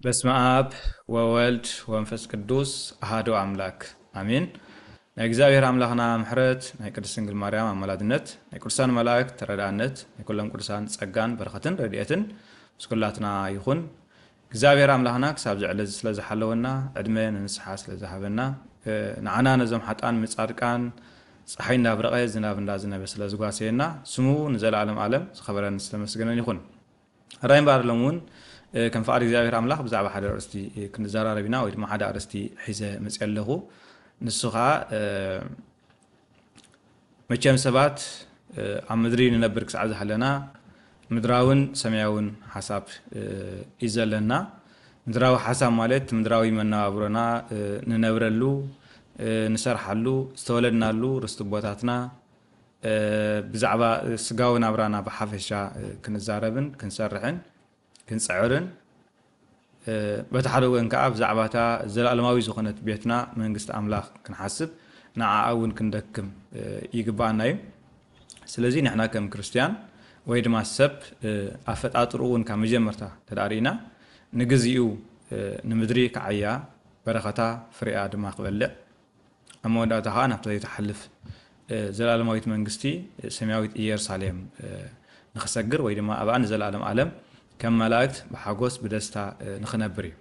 በስመኣብ ወወልድ ወንፈስ ቅዱስ ኣሃዱ ኣምላክ ኣሜን ናይ እግዚኣብሔር ኣምላክና ምሕረት ናይ ቅድስት ድንግል ማርያም ኣማላድነት ናይ ቅዱሳን መላእክት ተረዳእነት ናይ ኩሎም ቅዱሳን ጸጋን በረከትን ረድኤትን ምስ ኩላትና ይኹን እግዚኣብሔር ኣምላክና ክሳብ እዚ ዕለዚ ስለ ዝሓለወና ዕድመ ንንስሓ ስለ ዝሃበና ንዓና ነዞም ሓጥኣን ምጻድቃን ጸሓይ እንዳብረቀ ዝናብ እንዳዝነበ ስለ ዝጓሰየና ስሙ ንዘላኣለም ኣለም ዝከበረን ዝተመስገነን ይኩን ራይ እምበኣር ሎሚ ውን ከም ፍቃድ እግዚኣብሔር ኣምላክ ብዛዕባ ሓደ ኣርእስቲ ክንዛራረብ ኢና ወይ ድማ ሓደ ኣርእስቲ ሒዘ መጽየ ኣለኩ ንሱ ከኣ መቸም ሰባት ኣብ ምድሪ ንነብር ክሳዕ ዝሃለና ምድራውን ሰማያውን ሓሳብ እዩ ዘለና። ምድራዊ ሓሳብ ማለት ምድራዊ መነባብሮና ንነብረሉ፣ ንሰርሓሉ፣ ዝተወለድናሉ ርስቲ ቦታትና ብዛዕባ ስጋዊ ናብራና ብሓፈሻ ክንዛረብን ክንሰርሕን ክንጽዕርን በቲ ሓደ ወገን ከኣ ብዛዕባ እታ ዘለኣለማዊት ዝኾነት ቤትና መንግስቲ ኣምላኽ ክንሓስብ ንዓኣ እውን ክንደክም ይግብኣና እዩ። ስለዚ ንሕና ከም ክርስትያን ወይ ድማ ሰብ ኣፈጣጥርኡ እውን ካብ መጀመርታ እንተ ርኢና ንግዚኡ ንምድሪ ክዓያ በረኸታ ፍሬኣ ድማ ክበልዕ ኣብ መወዳእታ ከኣ ናብታ ዘይትሓልፍ ዘልኣለማዊት መንግስቲ ሰማያዊት ኢየሩሳሌም ንኽሰግር ወይ ድማ ኣብኣ ንዘልኣለም ኣለም ከም መላእክት ብሓጎስ ብደስታ ንኽነብር እዩ።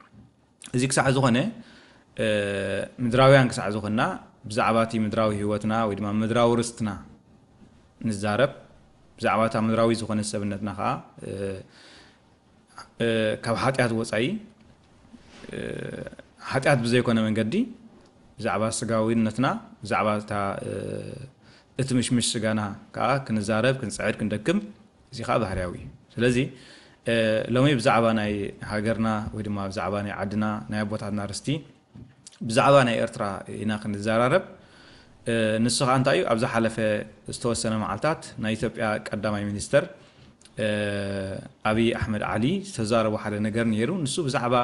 እዚ ክሳዕ ዝኾነ ምድራውያን ክሳዕ ዝኾንና ብዛዕባ እቲ ምድራዊ ህይወትና ወይ ድማ ምድራዊ ርስትና ንዛረብ፣ ብዛዕባ እታ ምድራዊት ዝኾነት ሰብነትና ከኣ ካብ ሓጢኣት ወጻኢ ሓጢኣት ብዘይኮነ መንገዲ ብዛዕባ ስጋዊነትና ብዛዕባ እታ እቲ ምሽምሽ ስጋና ከኣ ክንዛረብ ክንጽዕድ ክንደክም እዚ ከኣ ባህርያዊ እዩ ስለዚ ሎሚ ብዛዕባ ናይ ሃገርና ወይ ድማ ብዛዕባ ናይ ዓድና ናይ ኣቦታትና ርስቲ ብዛዕባ ናይ ኤርትራ ኢና ክንዛራረብ ንሱ ከኣ እንታይ እዩ ኣብ ዝሓለፈ ዝተወሰነ መዓልታት ናይ ኢትዮጵያ ቀዳማይ ሚኒስተር ኣብይ ኣሕመድ ዓሊ ዝተዛረቦ ሓደ ነገር ነይሩ ንሱ ብዛዕባ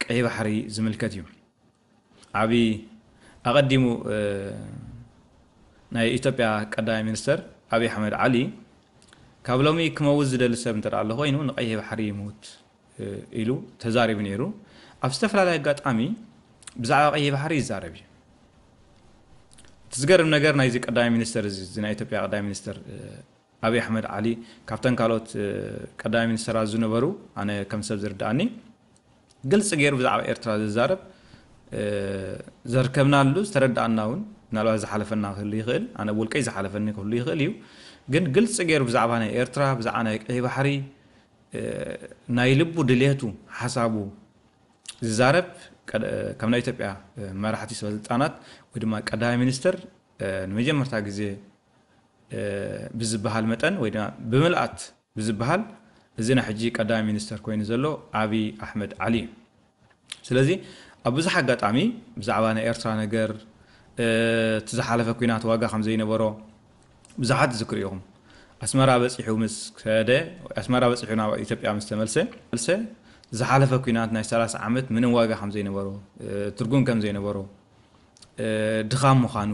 ቀይ ባሕሪ ዝምልከት እዩ ኣብይ ኣቐዲሙ ናይ ኢትዮጵያ ቀዳማይ ሚኒስተር ኣብይ ኣሕመድ ዓሊ ካብ ሎሚ ክመውት ዝደሊ ሰብ እንተ ኣሎ ኮይኑ ንቀይህ ባሕሪ ይሙት ኢሉ ተዛሪቡ ነይሩ። ኣብ ዝተፈላለየ ኣጋጣሚ ብዛዕባ ቀይሕ ባሕሪ ይዛረብ እዩ። እቲ ዝገርም ነገር ናይዚ ቀዳማይ ሚኒስተር እዚ እዚ ናይ ኢትዮጵያ ቀዳማይ ሚኒስተር ኣብይ ኣሕመድ ዓሊ ካብተን ካልኦት ቀዳማይ ሚኒስተራት ዝነበሩ ኣነ ከም ሰብ ዝርድኣኒ ግልፂ ገይሩ ብዛዕባ ኤርትራ ዝዛረብ ዘርከብናሉ ዝተረዳእና እውን ምናልባት ዝሓለፈና ክህሉ ይኽእል ኣነ ብውልቀይ ዝሓለፈኒ ክህሉ ይኽእል እዩ ግን ግልፂ ገይሩ ብዛዕባ ናይ ኤርትራ ብዛዕባ ናይ ቀይ ባሕሪ ናይ ልቡ ድልየቱ ሓሳቡ ዝዛረብ ካብ ናይ ኢትዮጵያ መራሕቲ ሰበስልጣናት ወይ ድማ ቀዳማይ ሚኒስትር ንመጀመርታ ግዜ ብዝበሃል መጠን ወይ ድማ ብምልኣት ብዝበሃል እዚ ናይ ሕጂ ቀዳማይ ሚኒስተር ኮይኑ ዘሎ ኣብይ ኣሕመድ ዓሊ እዩ። ስለዚ ኣብ ብዙሕ ኣጋጣሚ ብዛዕባ ናይ ኤርትራ ነገር እቲ ዝሓለፈ ኩናት ዋጋ ከም ዘይነበሮ ብዙሓት ትዝክሩ ኢኹም። ኣስመራ በጺሑ ምስ ከደ ኣስመራ በጺሑ ናብ ኢትዮጵያ ምስ ተመልሰ መልሰ ዝሓለፈ ኩናት ናይ ሰላሳ ዓመት ምንም ዋጋ ከም ዘይነበሮ ትርጉም ከም ዘይነበሮ ድኻም ምዃኑ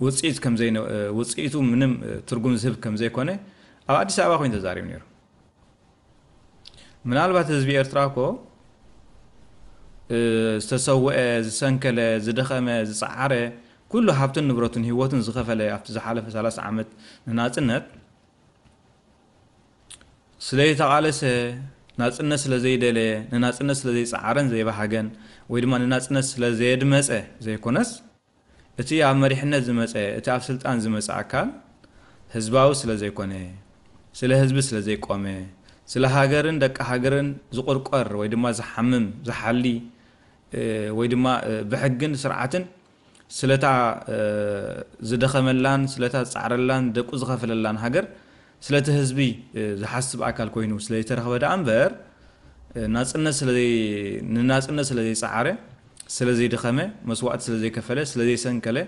ውጽኢት ከም ዘይ ውጽኢቱ ምንም ትርጉም ዝህብ ከም ዘይኮነ ኣብ ኣዲስ ኣበባ ኮይኑ ተዛሪቡ ነይሩ። ምናልባት ህዝቢ ኤርትራ እኮ ዝተሰወአ፣ ዝሰንከለ፣ ዝደኸመ፣ ዝጸዓረ ኩሉ ሃብትን ንብረቱን ህይወቱን ዝኸፈለ ኣብቲ ዝሓለፈ 30 ዓመት ንናጽነት ስለይተቓለሰ፣ ናጽነት ስለዘይደለየ፣ ንናጽነት ስለዘይጸዓረን ዘይበሃገን ወይ ድማ ንናጽነት ስለዘየድመጸ ዘይኮነስ፣ እቲ ኣብ መሪሕነት ዝመጸ፣ እቲ ኣብ ስልጣን ዝመጸ ኣካል ህዝባዊ ስለዘይኮነ፣ ስለ ህዝቢ ስለዘይቆመ፣ ስለ ሃገርን ደቂ ሃገርን ዝቑርቆር ወይ ድማ ዝሓምም፣ ዝሓሊ ወይ ድማ ብሕግን ስርዓትን ስለታ ዝደኸመላን ስለታ ዝጻዕረላን ደቁ ዝኸፈለላን ሃገር ስለቲ ህዝቢ ዝሓስብ ኣካል ኮይኑ ስለይተረኽበ ደኣ እምበር ናጽነት ስለዘይ ንናጽነት ስለዘይጸዓረ ስለዘይደኸመ መስዋእቲ ስለዘይከፈለ ስለዘይሰንከለ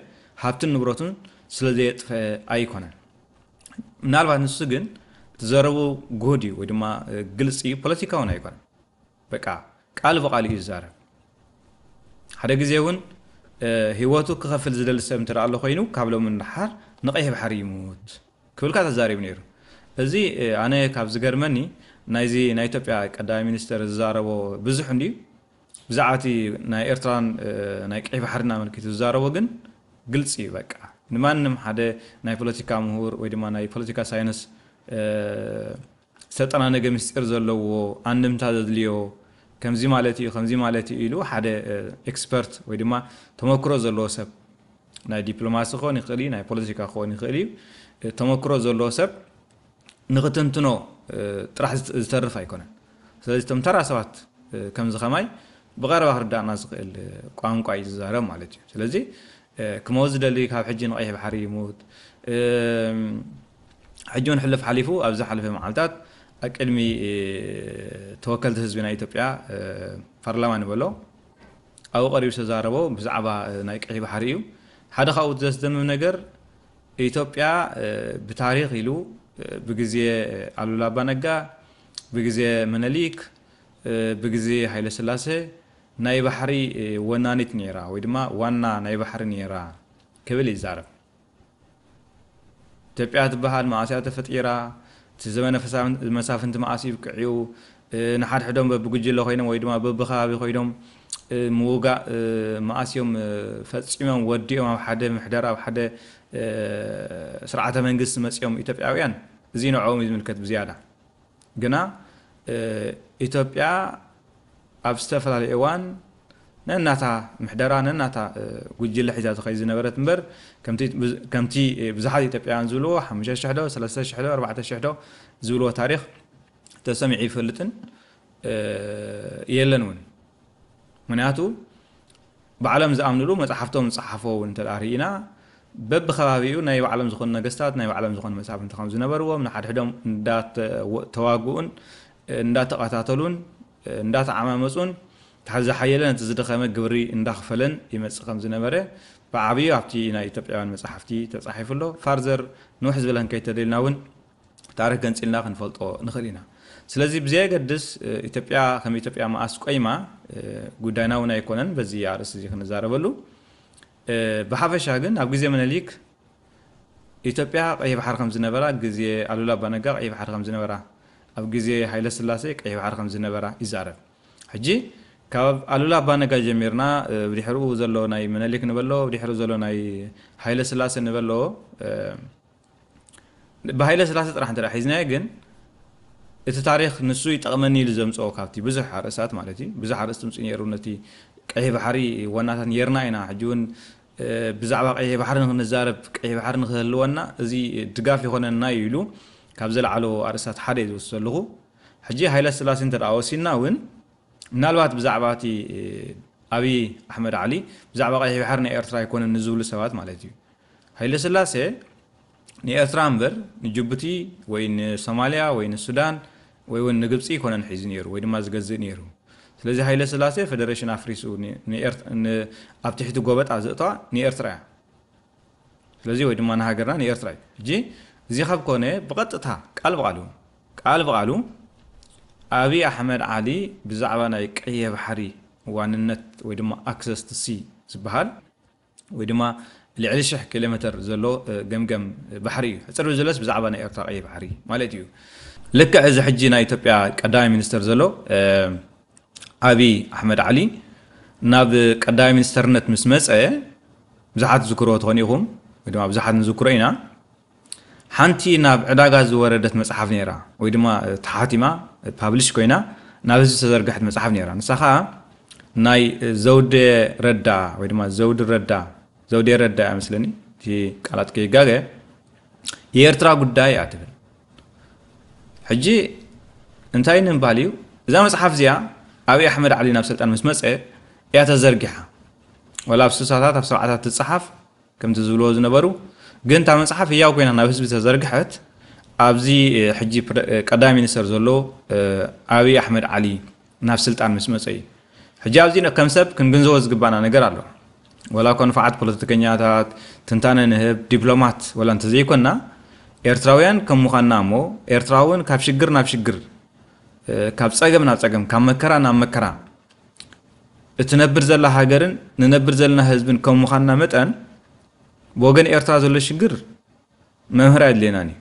ሃብትን ንብረቱን ስለዘየጥፈኣ ኣይኮነን ምናልባት ንሱ ግን እቲ ዘረብኡ ጉሁድ እዩ ወይ ድማ ግልጺ እዩ ፖለቲካውን ኣይኮነን በቃ ቃል ብቃል እዩ ዝዛረብ ሓደ ግዜ እውን ህይወቱ ክኸፍል ዝደሊ ሰብ እንተ ኣሎ ኮይኑ ካብ ሎሚ ንደሓር ንቀይሕ ባሕሪ ይሙት ክብልካ ተዛሪቡ ነይሩ እዚ ኣነ ካብ ዝገርመኒ ናይዚ ናይ ኢትዮጵያ ቀዳማይ ሚኒስተር ዝዛረቦ ብዙሕ እንድዩ ብዛዕባ እቲ ናይ ኤርትራን ናይ ቀይሕ ባሕሪን ኣመልኪቱ ዝዛረቦ ግን ግልፂ እዩ በቃ ንማንም ሓደ ናይ ፖለቲካ ምሁር ወይ ድማ ናይ ፖለቲካ ሳይንስ ዝተጠናነገ ምስጢር ዘለዎ፣ ኣንድምታ ዘድልዮ፣ ከምዚ ማለት እዩ፣ ከምዚ ማለት እዩ ኢሉ ሓደ ኤክስፐርት ወይ ድማ ተመክሮ ዘለዎ ሰብ፣ ናይ ዲፕሎማሲ ክኸውን ይኽእል እዩ፣ ናይ ፖለቲካ ክኸውን ይኽእል እዩ፣ ተመክሮ ዘለዎ ሰብ ንኽትንትኖ ጥራሕ ዝተርፍ ኣይኮነን። ስለዚ እቶም ተራ ሰባት ከምዚ ከማይ ብቐረባ ክርድኣና ዝኽእል ቋንቋ እዩ ዝዛረብ ማለት እዩ። ስለዚ ክመውት ዝደሊ ካብ ሕጂ ንቀይሕ ባሕሪ ይሙት ሕጂ ውን ሕልፍ ሓሊፉ ኣብ ዝሓለፈ መዓልታት ኣብ ቅድሚ ተወከልቲ ህዝቢ ናይ ኢትዮጵያ ፓርላማ ንበሎ ኣብኡ ቀሪቡ ዝተዛረቦ ብዛዕባ ናይ ቀይሕ ባሕሪ እዩ ሓደ ካብኡ እቲ ዘስደምም ነገር ኢትዮጵያ ብታሪኽ ኢሉ ብግዜ ኣሉላ ኣባ ነጋ ብግዜ ምነሊክ ብግዜ ሃይለ ስላሰ ናይ ባሕሪ ወናኒት ነይራ ወይ ድማ ዋና ናይ ባሕሪ ነይራ ክብል ይዛረብ። ኢትዮጵያ ትበሃል መኣስ እያ ተፈጢራ፣ እቲ ዘመነ መሳፍንቲ መኣስ ኢብቂዑ፣ ንሓድሕዶም በብጉጅለ ኮይኖም ወይ ድማ በብከባቢ ኮይኖም ምውጋእ መኣስ እዮም ፈፂሞም ወዲኦም ኣብ ሓደ ምሕደራ ኣብ ሓደ ስርዓተ መንግስቲ መፂኦም ኢትዮጵያውያን? እዙይ ንዕኦም እዩ ዝምልከት ብዝያዳ። ግና ኢትዮጵያ ኣብ ዝተፈላለየ እዋን ነናታ ምሕደራ ነናታ ጉጅለ ሒዛ ትኸይድ ዝነበረት እምበር ከምቲ ብዙሓት ኢትዮጵያውያን ዝብልዎ ሓሙሽተ ሽሕ ዶ ሰለስተ ሽሕ ዶ ኣርባዕተ ሽሕ ዶ ዝብልዎ ታሪኽ ተሰሚዑ ኣይፈልጥን የለን እውን። ምክንያቱ ባዕሎም ዝኣምንሉ መጻሕፍቶም ዝጸሓፎ ውን እንተ ርኢና በብከባቢኡ ናይ ባዕሎም ዝኾኑ ነገስታት ናይ ባዕሎም ዝኾኑ መሳፍንቲ ከም ዝነበርዎም ንሓድሕዶም እንዳተዋግኡን እንዳተቐታተሉን እንዳተዓማመጹን እቲ ዝሓየለ ነቲ ዝደኸመ ግብሪ እንዳኽፈለን ይመጽእ ከም ዝነበረ ብዓብዩ ኣብቲ ናይ ኢትዮጵያውያን መጻሕፍቲ ተጻሒፉ ኣሎ ፋርዘር ንውሕ ዝበለ ክንከይድ ተደሊና ውን ታሪኽ ገንጺልና ክንፈልጦ ንኽእል ኢና። ስለዚ ብዘየገድስ ኢትዮጵያ ከም ኢትዮጵያ መኣስ ቆይማ ጉዳይና እውን ኣይኮነን በዚ ኣርእስቲ እዚ ክንዛረበሉ። ብሓፈሻ ግን ኣብ ግዜ ምኒልክ ኢትዮጵያ ቀይሕ ባሕሪ ከም ዝነበራ፣ ግዜ ኣሉላ ኣባ ነጋ ቀይሕ ባሕሪ ከም ዝነበራ፣ ኣብ ግዜ ሃይለስላሴ ቀይሕ ባሕሪ ከም ዝነበራ ይዛረብ። ሕጂ ካብ ኣሉላ ኣባ ነጋ ጀሚርና ብድሕርኡ ዘሎ ናይ ምኒልክ ንበሎ ብድሕርኡ ዘሎ ናይ ሃይለስላሴ ንበሎ ብሃይለስላሰ ጥራሕ እንተ ሒዝናዮ ግን እቲ ታሪኽ ንሱ ይጠቕመኒ ኢሉ ዘምፅኦ ካብቲ ብዙሕ ኣርእስታት ማለት እዩ ብዙሕ ኣርእስቲ ምፅኡ ነይሩ ነቲ ቀይሕ ባሕሪ ወናታት ነርና ኢና ሕጂ እውን ብዛዕባ ቀይሕ ባሕሪ ንክንዛረብ ቀይሕ ባሕሪ ንክህልወና እዚ ድጋፍ ይኾነና እዩ ኢሉ ካብ ዘለዓሎ ኣርእስታት ሓደ እዩ ዝወስድ ዘለኹ ሕጂ ሃይለ ስላሴ እንተ ወሲድና እውን ምናልባት ብዛዕባ እቲ ኣብዪ ኣሕመድ ዓሊ ብዛዕባ ቀይሕ ባሕሪ ናይ ኤርትራ ኣይኮነን ንዝብሉ ሰባት ማለት እዩ ሃይለስላሴ ንኤርትራ እምበር ንጁቡቲ ወይ ንሶማልያ ወይ ንሱዳን ወይ ውን ንግብጺ ኣይኮነን ሒዙ ኔሩ ወይ ድማ ዝገዝእ ኔሩ። ስለዚ ሃይለስላሴ ፈደረሽን ኣፍሪሱ ኣብ ትሕቲ ጎበጣ ዘእተዋ ንኤርትራ እያ። ስለዚ ወይ ድማ ንሃገርና ንኤርትራ እዩ። ሕጂ እዚ ካብ ኮነ ብቐጥታ ቃል ብቓል ውን ቃል ብቓሉ ኣብይ ኣሕመድ ዓሊ ብዛዕባ ናይ ቀይሕ ባሕሪ ዋንነት ወይ ድማ ኣክሰስ ቱ ሲ ዝበሃል፣ ወይ ድማ ልዕሊ ሽሕ ኪሎሜተር ዘሎ ገምገም ባሕሪ እዩ። ሕጽር ብዝበለስ ብዛዕባ ናይ ኤርትራ ቀይሕ ባሕሪ ማለት እዩ። ልክዕ እዚ ሕጂ ናይ ኢትዮጵያ ቀዳማይ ሚኒስተር ዘሎ ኣብይ ኣሕመድ ዓሊ ናብ ቀዳማይ ሚኒስተርነት ምስ መጸ ብዙሓት ትዝክርዎ ትኾኑ ኢኹም ወይ ድማ ብዙሓት ንዝክሮ ኢና ሓንቲ ናብ ዕዳጋ ዝወረደት መጽሓፍ ነይራ ወይ ድማ ተሓቲማ ፓብሊሽ ኮይና ናብ ህዝቢ ዝተዘርግሐት መጽሓፍ ነይራ ንሳ ከኣ ናይ ዘውዴ ረዳ ወይ ድማ ዘውዲ ረዳ ዘውዴ ረዳ እያ መስለኒ እቲ ቃላት ከይጋገ የኤርትራ ጉዳይ እያ ትብል ሕጂ እንታይ ንምባል እዩ እዛ መፅሓፍ እዚኣ ኣብዪ ኣሕመድ ዓሊ ናብ ስልጣን ምስ መፀ እያ ተዘርጊሓ ወላ ኣብ ስሳታት ኣብ ሰብዓታት ትፀሓፍ ከምቲ ዝብልዎ ዝነበሩ ግን እታ መጽሓፍ ህያው ኮይና ናብ ህዝቢ ተዘርግሐት ኣብዚ ሕጂ ቀዳማይ ሚኒስተር ዘሎ ኣብይ ኣሕመድ ዓሊ ናብ ስልጣን ምስ መጸ እዩ ሕጂ ኣብዚ ከም ሰብ ክንግንዘቦ ዝግባእና ነገር ኣሎ ወላ እኳ ንፋዓት ፖለቲከኛታት ትንታነ ንህብ ዲፕሎማት ወላ እንተዘይኮንና ኤርትራውያን ከም ምዃንና እሞ ኤርትራውን ካብ ሽግር ናብ ሽግር ካብ ጸገም ናብ ጸገም ካብ መከራ ናብ መከራ እትነብር ዘላ ሃገርን ንነብር ዘለና ህዝብን ከም ምዃንና መጠን ብወገን ኤርትራ ዘሎ ሽግር መምህር ኣየድልየናን እዩ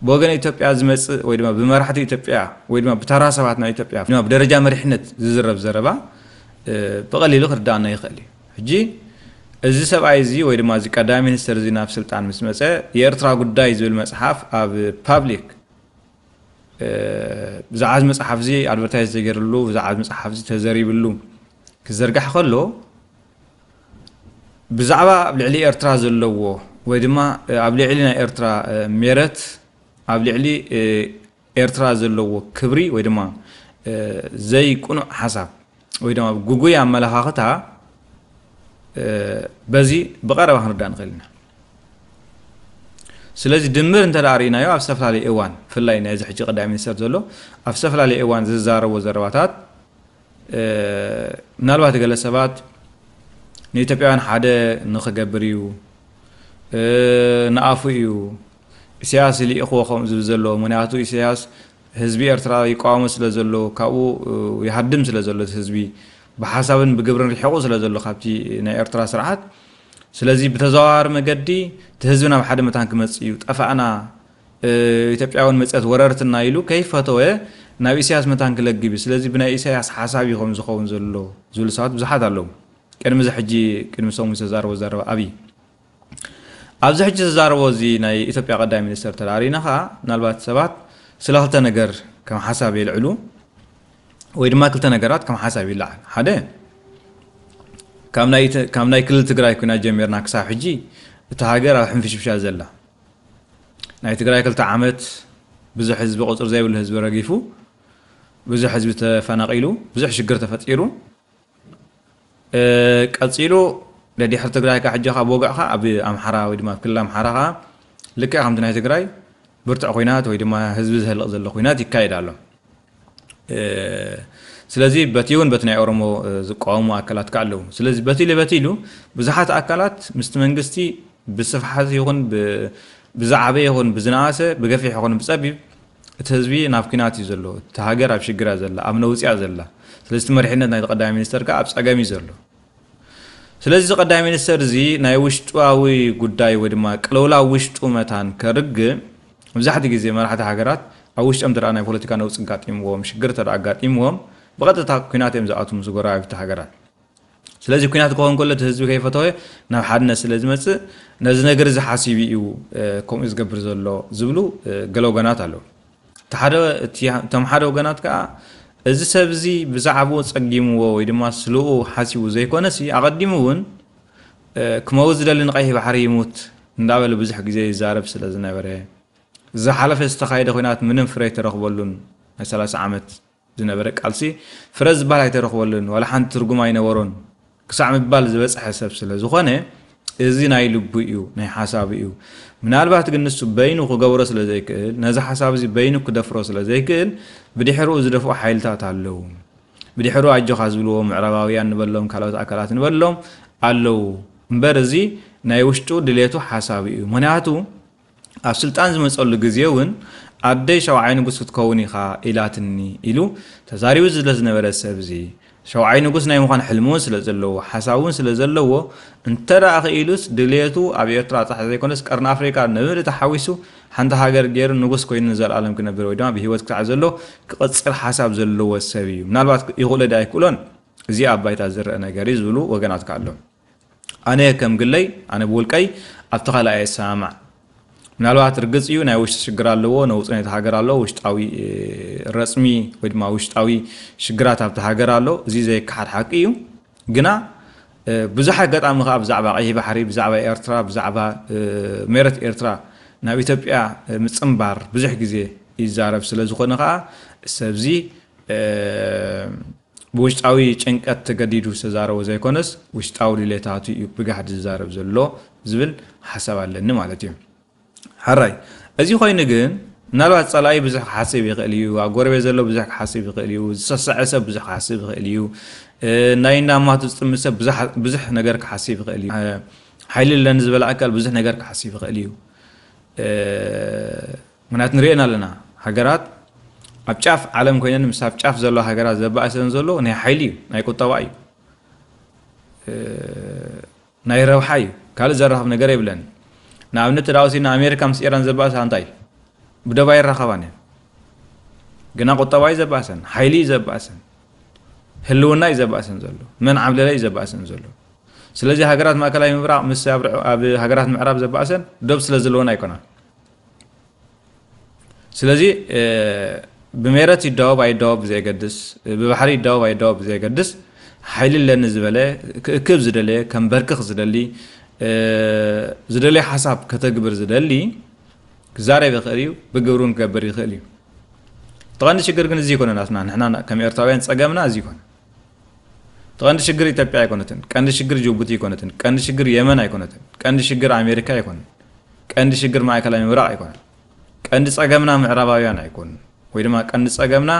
ብወገን ኢትዮጵያ ዝመጽእ ወይ ድማ ብመራሕቲ ኢትዮጵያ ወይ ድማ ብተራ ሰባት ናይ ኢትዮጵያ ድማ ብደረጃ መሪሕነት ዝዝረብ ዘረባ ብቐሊሉ ክርዳኣና ይኽእል እዩ ሕጂ እዚ ሰብኣይ እዚ ወይ ድማ እዚ ቀዳማይ ሚኒስተር እዚ ናብ ስልጣን ምስ መጸ የኤርትራ ጉዳይ ዝብል መጽሓፍ ኣብ ፓብሊክ ብዛዕባ እዚ መጽሓፍ እዚ ኣድቨርታይዝ ተገይርሉ ብዛዕባ እዚ መጽሓፍ እዚ ተዘሪብሉ ክዘርጋሕ ከሎ ብዛዕባ ኣብ ልዕሊ ኤርትራ ዘለዎ ወይ ድማ ኣብ ልዕሊ ናይ ኤርትራ ሜረት ኣብ ልዕሊ ኤርትራ ዘለዎ ክብሪ ወይ ድማ ዘይቅኑዕ ሓሳብ ወይ ድማ ጉጉይ ኣመለኻኽታ በዚ ብቐረባ ክንርዳእ ንኽእል ኢና ስለዚ ድምር እንተ ርእናዮ ኣብ ዝተፈላለየ እዋን ብፍላይ ናይዚ ሕጂ ቀዳሚ ሚኒስተር ዘሎ ኣብ ዝተፈላለየ እዋን ዝዛረቦ ዘረባታት ምናልባት ገለ ሰባት ንኢትዮጵያውያን ሓደ ንክገብር እዩ ንኣፉ እዩ ኢሳያስ ልኢኽዎ ከምኡ ዝብል ዘለዎ ምክንያቱ ኢሳያስ ህዝቢ ኤርትራ ይቃወሞ ስለ ዘሎ ካብኡ ይሃድም ስለ ዘሎ እቲ ህዝቢ ብሓሳብን ብግብርን ሪሒቁ ስለ ዘሎ ካብቲ ናይ ኤርትራ ስርዓት ስለዚ ብተዘዋዋሪ መገዲ እቲ ህዝቢ ናብ ሓደ መታን ክመጽእ እዩ ጠፋእና ኢትዮጵያውን መጽት ወረርትና ኢሉ ከይፈተወ ናብ ኢሳያስ መታን ክለግብ እዩ ስለዚ ብናይ ኢሳያስ ሓሳብ እዩ ከም ዝኸውን ዘሎ ዝብሉ ሰባት ብዙሓት ኣለዉ ቅድሚ እዚ ሕጂ ቅድሚ ሰሙን ዝተዛረቦ ዘረባ ኣብይ ኣብዚ ሕጂ ዝዛረቦ እዚ ናይ ኢትዮጵያ ቀዳይ ሚኒስተር ተራሪና ከኣ ምናልባት ሰባት ስለ ክልተ ነገር ከም ሓሳብ የልዕሉ ወይ ድማ ክልተ ነገራት ከም ሓሳብ ይለዓል ሓደ ካብ ናይ ክልል ትግራይ ኩና ጀሚርና ክሳብ ሕጂ እታ ሃገር ኣብ ሕንፍሽፍሻ ዘላ ናይ ትግራይ ክልተ ዓመት ብዙሕ ህዝቢ ቁፅሪ ዘይብሉ ህዝቢ ረጊፉ ብዙሕ ህዝቢ ተፈናቂሉ ብዙሕ ሽግር ተፈጢሩ ቀጺሉ ደድሕሪ ትግራይ ከኣ ሕጂ ኣብ ወግዕካ ኣብ ኣምሓራ ወይ ድማ ኣብ ክልል ኣምሓራ ከኣ ልክዕ ከምቲ ናይ ትግራይ ብርቱዕ ኩናት ወይ ድማ ህዝቢ ዝህልቕ ዘሎ ኩናት ይካየድ ኣሎ ስለዚ በቲ እውን በቲ ናይ ኦሮሞ ዝቃወሙ ኣካላት ከዓ ኣለዉ ስለዚ በቲ ኢሉ በቲ ኢሉ ብዙሓት ኣካላት ምስቲ መንግስቲ ብስፍሓት ይኹን ብዝዓበየ ይኹን ብዝነኣሰ ብገፊሕ ይኹን ብፀቢብ እቲ ህዝቢ ናብ ኩናት እዩ ዘሎ እቲ ሃገር ኣብ ሽግር እያ ዘላ ኣብ ነውጺ እያ ዘላ ስለዚ እቲ መሪሕነት ናይቲ ቀዳማይ ሚኒስተር ከኣ ኣብ ጸገም እዩ ዘሎ ስለዚ እዚ ቀዳማይ ሚኒስተር እዚ ናይ ውሽጣዊ ጉዳይ ወይ ድማ ቅልውላው ውሽጡ መታን ከርግእ መብዛሕትኡ ግዜ መራሕቲ ሃገራት ኣብ ውሽጦም እንተ ናይ ፖለቲካ ነውጺ ኣጋጢምዎም ሽግር እንተ ኣጋጢምዎም ብቐጥታ ኩናት እዮም ዝኣትዉ ምስ ጎረባብቲ ሃገራት ስለዚ ኩናት ክኸውን ከሎ እቲ ህዝቢ ከይፈተወ ናብ ሓድነት ስለ ዝመጽእ ነዚ ነገር እዚ ሓሲቡ እዩ ከምኡ ዝገብር ዘሎ ዝብሉ ገለ ወገናት ኣለዉ። እቲ ሓደ እቶም ሓደ ወገናት ከኣ እዚ ሰብ እዚ ብዛዕባኡ ጸጊምዎ ወይ ድማ ስለኡ ሓሲቡ ዘይኮነሲ ኣቐዲሙ እውን ክመውት ዝደሊ ንቀይሕ ባሕሪ ይሙት እንዳበለ ብዙሕ ግዜ ይዛረብ ስለ ዝነበረ ዝሓለፈ ዝተኻየደ ኩናት ምንም ፍረ ኣይተረኽበሉን ናይ ሰላሳ ዓመት ዝነበረ ቃልሲ ፍረ ዝብሃል ኣይተረኽበሉን፣ ዋላ ሓንቲ ትርጉም ኣይነበሮን ክሳዕ ምባል ዝበጽሐ ሰብ ስለ ዝኾነ፣ እዚ ናይ ልቡ'ዩ፣ ናይ ሓሳቡ'ዩ። ምናልባት ግን ንሱ በይኑ ክገብሮ ስለ ዘይክእል፣ ነዚ ሓሳብ'ዚ በይኑ ክደፍሮ ስለ ዘይክእል፣ ብድሕርኡ ዝደፍኡ ሓይልታት ኣለዉ። ብድሕርኡ ኣጆኻ ዝብልዎ ምዕራባውያን ንበሎም ካልኦት ኣካላት ንበሎም ኣለዉ። እምበር እዚ ናይ ውሽጡ ድሌቱ ሓሳቡ'ዩ። ምኽንያቱ። ኣብ ስልጣን ዝመጸሉ ግዜ እውን ኣደይ ሸውዓይ ንጉስ ክትከውን ኢኻ ኢላትኒ ኢሉ ተዛሪቡ ዝለዝነበረ ሰብ እዚ ሸውዓይ ንጉስ ናይ ምዃን ሕልሚ እውን ስለ ዘለዎ ሓሳብ እውን ስለ ዘለዎ እንተ ክኢሉስ ድልየቱ ኣብ ኤርትራ ጥራሕ ዘይኮነስ ቀርኒ ኣፍሪቃ ንብምልእቲ ሓዊሱ ሓንቲ ሃገር ገይሩ ንጉስ ኮይኑ ንዘልኣለም ክነብር ወይ ድማ ብህይወት ክሳዕ ዘሎ ክቕጽል ሓሳብ ዘለዎ ሰብ እዩ ምናልባት ይኽእሎ ድኣ ኣይክእሎን እዚ ኣብ ባይታ ዝረኣ ነገር እዩ ዝብሉ ወገናት ከኣ ኣለዉ። ኣነ ከም ግለይ ኣነ ብውልቀይ ኣብቲ ካልኣይ ኣየ ሰማማዕ ምናልባት ርግጽ እዩ ናይ ውሽጢ ሽግር ኣለዎ ነውጽ ነቲ ሃገር ኣሎ ውሽጣዊ ረጽሚ ወይ ድማ ውሽጣዊ ሽግራት ኣብቲ ሃገር ኣሎ እዚ ዘይከሓድ ሓቂ እዩ ግና ብዙሕ ኣጋጣሚ ከዓ ብዛዕባ ቀይሕ ባሕሪ ብዛዕባ ኤርትራ ብዛዕባ ሜረት ኤርትራ ናብ ኢትዮጵያ ምፅምባር ብዙሕ ግዜ ይዛረብ ስለ ዝኾነ ከዓ ሰብዚ ብውሽጣዊ ጭንቀት ተገዲዱ ዝተዛረቦ ዘይኮነስ ውሽጣዊ ድሌታቱ እዩ ብጋህዲ ዝዛረብ ዘሎ ዝብል ሓሳብ ኣለኒ ማለት እዩ። ሕራይ እዚ ኮይኑ ግን ምናልባት ጸላኢ ብዙሕ ክሓስብ ይኽእል እዩ፣ ኣብ ጎረቤት ዘሎ ብዙሕ ክሓስብ ይኽእል እዩ፣ ዝሰሰዐ ሰብ ብዙሕ ክሓስብ ይኽእል እዩ፣ ናይ እንዳ ኣማቱ ዝጥምት ሰብ ብዙሕ ነገር ክሓስብ ይኽእል እዩ፣ ሓይሊ ኣለኒ ዝበለ ኣካል ብዙሕ ነገር ክሓስብ ይኽእል እዩ። ምኽንያቱ ንርእየን ኣለና ሃገራት ኣብ ጫፍ ዓለም ኮይነን ምስ ኣብ ጫፍ ዘለዋ ሃገራት ዘባእሰን ዘሎ ናይ ሓይሊ እዩ ናይ ቁጠባ እዩ ናይ ረብሓ እዩ ካልእ ዘራኽብ ነገር የብለን ንኣብነት ተዳ ወሲድና ኣሜሪካ ምስ ኢራን ዘባእሳ እንታይ እዩ ብደባ ይራኸባን እየን ግና ቁጠባ እዩ ዘባእሰን ሓይሊ እዩ ዘባእሰን ህልውና እዩ ዘባእሰን ዘሎ መን ዓብለለ እዩ ዘባእሰን ዘሎ ስለዚ ሃገራት ማእከላይ ምብራቕ ምስ ኣብ ሃገራት ምዕራብ ዘባእሰን ዶብ ስለ ዘለወን ኣይኮናን ስለዚ ብሜረት ይዳወብ ኣይዳወብ ብዘየገድስ ብባሕሪ ይዳወብ ኣይዳወብ ብዘየገድስ ሓይሊ ኣለኒ ዝበለ ክእክብ ዝደለየ ከምበርክኽ ዝደሊ ዝደለየ ሓሳብ ከተግብር ዝደሊ ክዛረብ ይኽእል እዩ ብግብሪ እውን ክገብር ይኽእል እዩ ተቐንዲ ሽግር ግን እዚ ይኮነ ናትና ንሕና ከም ኤርትራውያን ጸገምና እዚ ይኮነ ተቐንዲ ሽግር ኢትዮጵያ ኣይኮነትን ቀንዲ ሽግር ጅቡቲ ኣይኮነትን ቀንዲ ሽግር የመን ኣይኮነትን ቀንዲ ሽግር ኣሜሪካ ኣይኮነን ቀንዲ ሽግር ማእከላይ ምብራቕ ኣይኮነን። ቀንዲ ጸገምና ምዕራባውያን ኣይኮኑን። ወይ ድማ ቀንዲ ጸገምና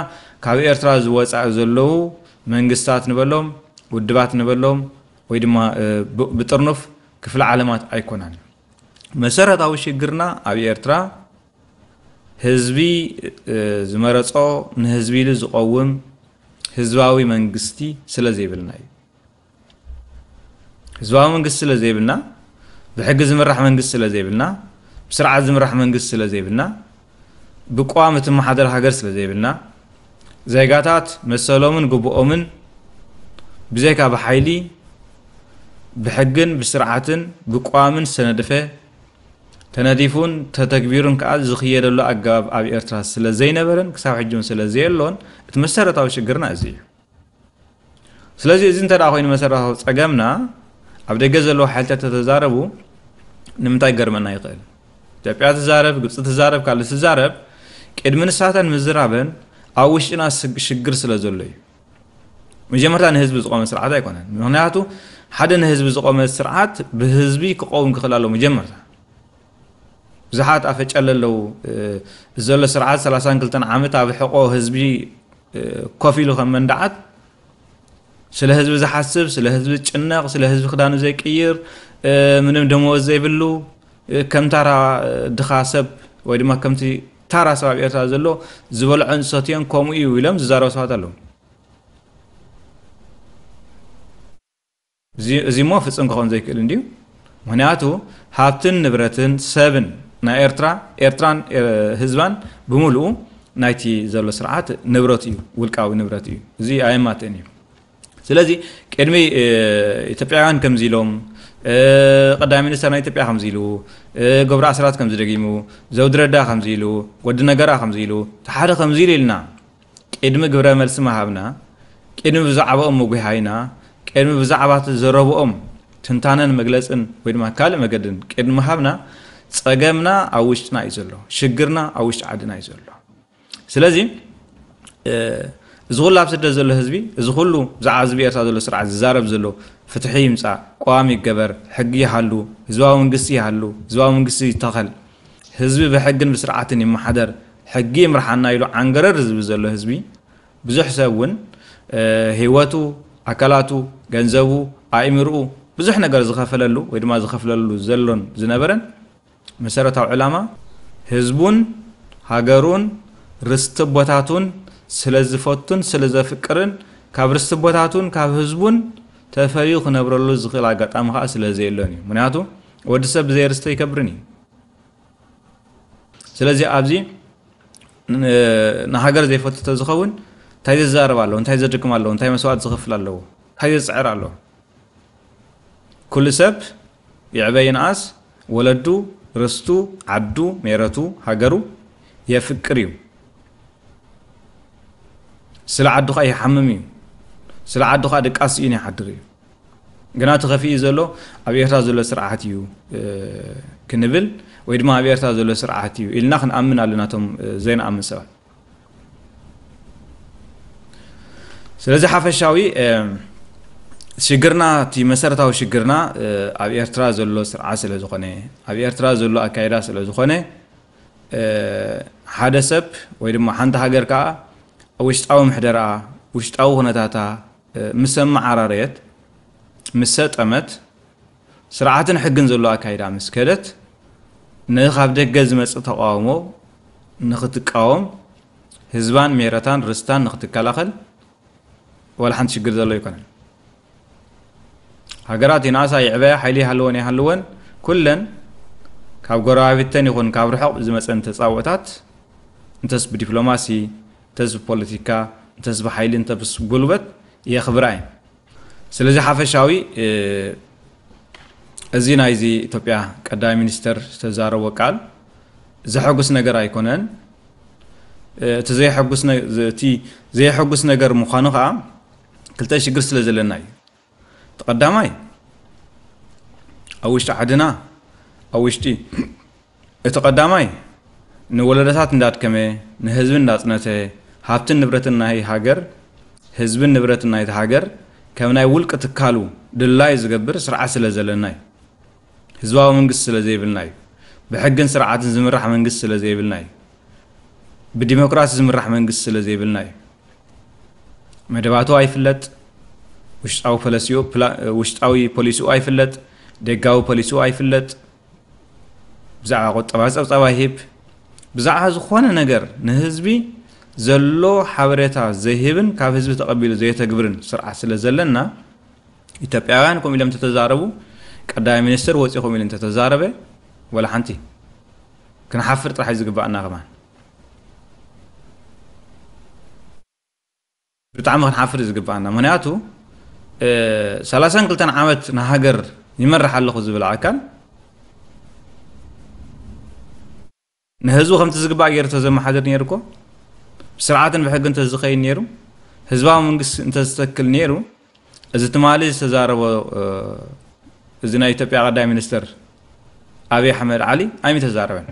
ካብ ኤርትራ ዝወጻኢ ዘለዉ መንግስታት ንበሎም፣ ውድባት ንበሎም፣ ወይ ድማ ብጥርኑፍ ክፍለ ዓለማት ኣይኮናን። መሰረታዊ ሽግርና ኣብ ኤርትራ ህዝቢ ዝመረጾ ንህዝቢ ኢሉ ዝቐውም ህዝባዊ መንግስቲ ስለዘይብልና እዩ። ህዝባዊ መንግስቲ ስለ ዘይብልና ብሕጊ ዝምራሕ መንግስቲ ስለ ዘይብልና ብስርዓት ዝምራሕ መንግስቲ ስለ ዘይብልና ብቅዋም እትመሓደር ሃገር ስለ ዘይብልና ዜጋታት መሰሎምን ግብኦምን ብዘይካ ብሓይሊ ብሕግን ብስርዓትን ብቅዋምን ዝተነድፈ ተነዲፉን ተተግቢሩን ከዓ ዝኽየደሉ ኣገባብ ኣብ ኤርትራ ስለ ዘይነበረን ክሳብ ሕጂ እውን ስለ ዘየሎን እቲ መሰረታዊ ሽግርና እዚ እዩ ስለዚ እዚ እንተ ኮይኑ መሰረታዊ ጸገምና ኣብ ደገ ዘለዉ ሓይልታት ተተዛረቡ ንምንታይ ገርመና ይኽእል ኢትዮጵያ ትዛረብ ግብፂ ትዛረብ ካልእ ትዛረብ ቅድሚ ንሳተን ምዝራበን ኣብ ውሽጥና ሽግር ስለ ዘሎ እዩ መጀመርታ ንህዝቢ ዝቆመ ስርዓት ኣይኮነን ምክንያቱ ሓደ ንህዝቢ ዝቆመ ስርዓት ብህዝቢ ክቀውም ክኽእል ኣለዎ መጀመርታ ብዙሓት ኣፈጨለ ኣለዉ ዘሎ ስርዓት 32 ዓመት ኣብ ሕቆ ህዝቢ ኮፍ ኢሉ ከም መንድዓት ስለ ህዝቢ ዝሓስብ ስለ ህዝቢ ዝጭነቕ ስለ ህዝቢ ክዳኑ ዘይቅይር ምንም ደመወዝ ዘይብሉ ከም ታራ ድኻ ሰብ ወይ ድማ ከምቲ ታራ ሰብ ኣብ ኤርትራ ዘሎ ዝበልዖን ዝሰትዮን ከምኡ እዩ ኢሎም ዝዛረቡ ሰባት ኣለዉ እዚ'ሞ ፍጽም ክኸውን ዘይክእል እንድዩ። ምኽንያቱ ሃብትን ንብረትን ሰብን ናይ ኤርትራ፣ ኤርትራን ህዝባን ብምሉኡ ናይቲ ዘሎ ስርዓት ንብረቱ እዩ፣ ውልቃዊ ንብረት እዩ። እዚ ኣየማትእን እዩ። ስለዚ ቅድሚ ኢትዮጵያውያን ከምዚ ኢሎም ቀዳማይ ሚኒስተር ናይ ኢትዮጵያ ከምዚ ኢሉ ገብሩ ኣስራት ከምዚ ደጊሙ ዘውዲ ረዳ ከምዚ ኢሉ ወዲ ነገራ ከምዚ ኢሉ ሓደ ከምዚ ኢሉ ኢልና ቅድሚ ግብረ መልሲ ምሃብና፣ ቅድሚ ብዛዕባኦም ምጒሃይና፣ ቅድሚ ብዛዕባቲ ዘረብኦም ትንታነን መግለጽን ወይ ድማ ካልእ መገድን ቅድሚ ምሃብና፣ ጸገምና ኣብ ውሽጥና እዩ ዘሎ። ሽግርና ኣብ ውሽጢ ዓድና እዩ ዘሎ። ስለዚ እዚ ኩሉ ኣብ ስደት ዘሎ ህዝቢ፣ እዚ ኩሉ ብዛዕባ እዚ ብኤርትራ ዘሎ ስርዓት ዝዛረብ ዘሎ ፍትሒ ይምጻእ፣ ቀዋሚ ይገበር፣ ሕጊ ይሃሉ፣ ህዝባዊ መንግስቲ ይሃሉ፣ ህዝባዊ መንግስቲ ይተኸል፣ ህዝቢ ብሕግን ብስርዓትን ይመሓደር ሕጊ ይምርሓና ኢሉ ዓንገረር ዝብል ዘሎ ህዝቢ ብዙሕ ሰብ ውን ሂወቱ ኣካላቱ ገንዘቡ ኣኢምርኡ ብዙሕ ነገር ዝኸፈለሉ ወይ ድማ ዝኸፍለሉ ዘሎን ዝነበረን መሰረታዊ ዕላማ ህዝቡን ሃገሩን ርስቲ ኣቦታቱን ስለዝፈቱን ስለዘፍቅርን ካብ ርስቲ ኣቦታቱን ካብ ህዝቡን ተፈልዩ ክነብረሉ ዝኽእል ኣጋጣሚ ከኣ ስለዘየሎን እዩ ምክንያቱ ወዲ ሰብ ብዘይ ርስቲ ኣይከብርን እዩ ስለዚ ኣብዚ ንሃገር ዘይፈቱ ተዝኸውን እንታይ ዘዛረብ ኣለዎ እንታይ ዘድክም ኣለዎ እንታይ መስዋእት ዝኽፍል ኣለዎ እንታይ ዘፅዕር ኣለዎ ኩሉ ሰብ ይዕበ ይንኣስ ወለዱ ርስቱ ዓዱ ሜረቱ ሃገሩ የፍቅር እዩ ስለ ዓዱ ከዓ ይሓምም እዩ ስለ ዓዱ ከዓ ድቃስ እዩን ይሓድር እዩ ግና እቲ ከፊኢ ዘሎ ኣብ ኤርትራ ዘሎ ስርዓት እዩ ክንብል ወይ ድማ ኣብ ኤርትራ ዘሎ ስርዓት እዩ ኢልና ክንኣምን ኣለና እቶም ዘይንኣምን ሰባት ስለዚ ሓፈሻዊ ሽግርና እቲ መሰረታዊ ሽግርና ኣብ ኤርትራ ዘሎ ስርዓት ስለ ዝኾነ ኣብ ኤርትራ ዘሎ ኣካይዳ ስለ ዝኾነ ሓደ ሰብ ወይ ድማ ሓንቲ ሃገር ከዓ ውሽጣዊ ምሕደራ ውሽጣዊ ኩነታታ ምስ ኣመዓራረየት፣ ምስ ሰጠመት፣ ስርዓትን ሕግን ዘለዎ ኣካይዳ ምስ ከደት፣ ንኻብ ደገ ዝመጽእ ተቓውሞ ንኽትቃወም፣ ህዝባን ሜረታን ርስታን ንኽትከላኸል ዋላ ሓንቲ ሽግር ዘሎ ኣይኮነን። ሃገራት ይንኣሳ ይዕበያ፣ ሓይሊ ይሃልወን ኣይሃልወን፣ ኩለን ካብ ጎረባብተን ይኹን ካብ ርሑቕ ብዝመጸን ተጻብኦታት እንተስ ብዲፕሎማሲ፣ እንተስ ብፖለቲካ እንተስ ብሓይሊ እንተስ ብጉልበት የኽብራ እየን። ስለዚ ሓፈሻዊ እዚ ናይዚ ኢትዮጵያ ቀዳማይ ሚኒስተር ዝተዛረቦ ቃል ዘሐጉስ ነገር ኣይኮነን። እቲ ዘየሐጉስ እቲ ዘየሐጉስ ነገር ምዃኑ ከኣ ክልተ ሽግር ስለ ዘለና እዩ። እቲ ቀዳማይ ኣብ ውሽጢ ዓድና ኣብ ውሽጢ እቲ ቀዳማይ ንወለዶታት እንዳድከመ ንህዝቢ እንዳጽነተ ሃብትን ንብረትን ናይ ሃገር ህዝብን ንብረትን ናይቲ ሃገር ከም ናይ ውልቂ ትካሉ ድላዩ ዝገብር ስርዓት ስለ ዘለና እዩ። ህዝባዊ መንግስቲ ስለ ዘይብልና እዩ። ብሕግን ስርዓትን ዝምራሕ መንግስቲ ስለ ዘይብልና እዩ። ብዲሞክራሲ ዝምራሕ መንግስቲ ስለ ዘይብልና እዩ። መደባቱ ኣይፍለጥ፣ ውሽጣዊ ፖሊሲኡ ውሽጣዊ ፖሊሲኡ ኣይፍለጥ፣ ደጋዊ ፖሊሲኡ ኣይፍለጥ፣ ብዛዕባ ቁጠባ ጸብጻብ ኣይህብ፣ ብዛዕባ ዝኾነ ነገር ንህዝቢ ዘሎ ሓበሬታ ዘይህብን ካብ ህዝቢ ተቐቢሉ ዘየተግብርን ስርዓት ስለ ዘለና ኢትዮጵያውያን ከምኡ ኢሎም ተተዛረቡ ቀዳማይ ሚኒስትር ወፂኹም ኢሉ እንተተዛረበ ወላ ሓንቲ ክንሓፍር ጥራሕ እዩ ዝግባኣና ከማን ብጣዕሚ ክንሓፍር ዝግብኣና ምክንያቱ ሰላሳን ክልተን ዓመት ንሃገር ይመርሕ ኣለኹ ዝብል ኣካል ንህዝቡ ከምቲ ዝግባእ ገይሩ ተዘመሓድር ነይሩ እኮ ስርዓትን ብሕጊ እንተዝኸይድ ነይሩ ህዝባዊ መንግስቲ እንተዝተክል ነይሩ እዚ ትማሊ ዝተዛረቦ እዚ ናይ ኢትዮጵያ ቀዳይ ሚኒስትር ኣብይ ኣሕመድ ዓሊ ኣይሚ ተዛረበን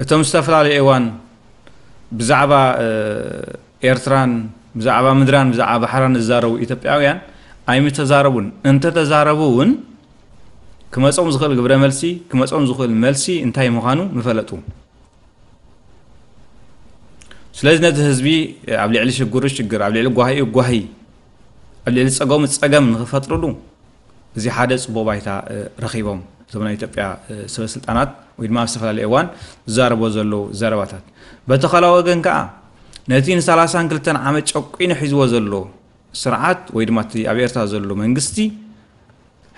እቶም ዝተፈላለዩ እዋን ብዛዕባ ኤርትራን ብዛዕባ ምድራን ብዛዕባ ባሕራን ዝዛረቡ ኢትዮጵያውያን ኣይምተዛረቡን እንተተዛረቡ እውን ክመፆም ዝኽእል ግብረ መልሲ ክመፆም ዝኽእል መልሲ እንታይ ምዃኑ ምፈለጡ ስለዚ ነዚ ህዝቢ ኣብ ልዕሊ ሽግሩ ሽግር ኣብ ልዕሊ ጓሂኡ ጓሂ ኣብ ልዕሊ ፀገሙ ፀገም ንክፈጥርሉ እዚ ሓደ ፅቡቅ ባይታ ረኪቦም እዞም ናይ ኢትዮጵያ ሰበስልጣናት ወይ ድማ ኣብ ዝተፈላለዩ እዋን ዝዛረቦ ዘለዉ ዘረባታት በቲ ካልኣ ወገን ከዓ ነቲ ንሰላሳን ክልተን ዓመት ጨቂኑ ሒዝዎ ዘሎ ስርዓት ወይ ድማ እቲ ኣብ ኤርትራ ዘሎ መንግስቲ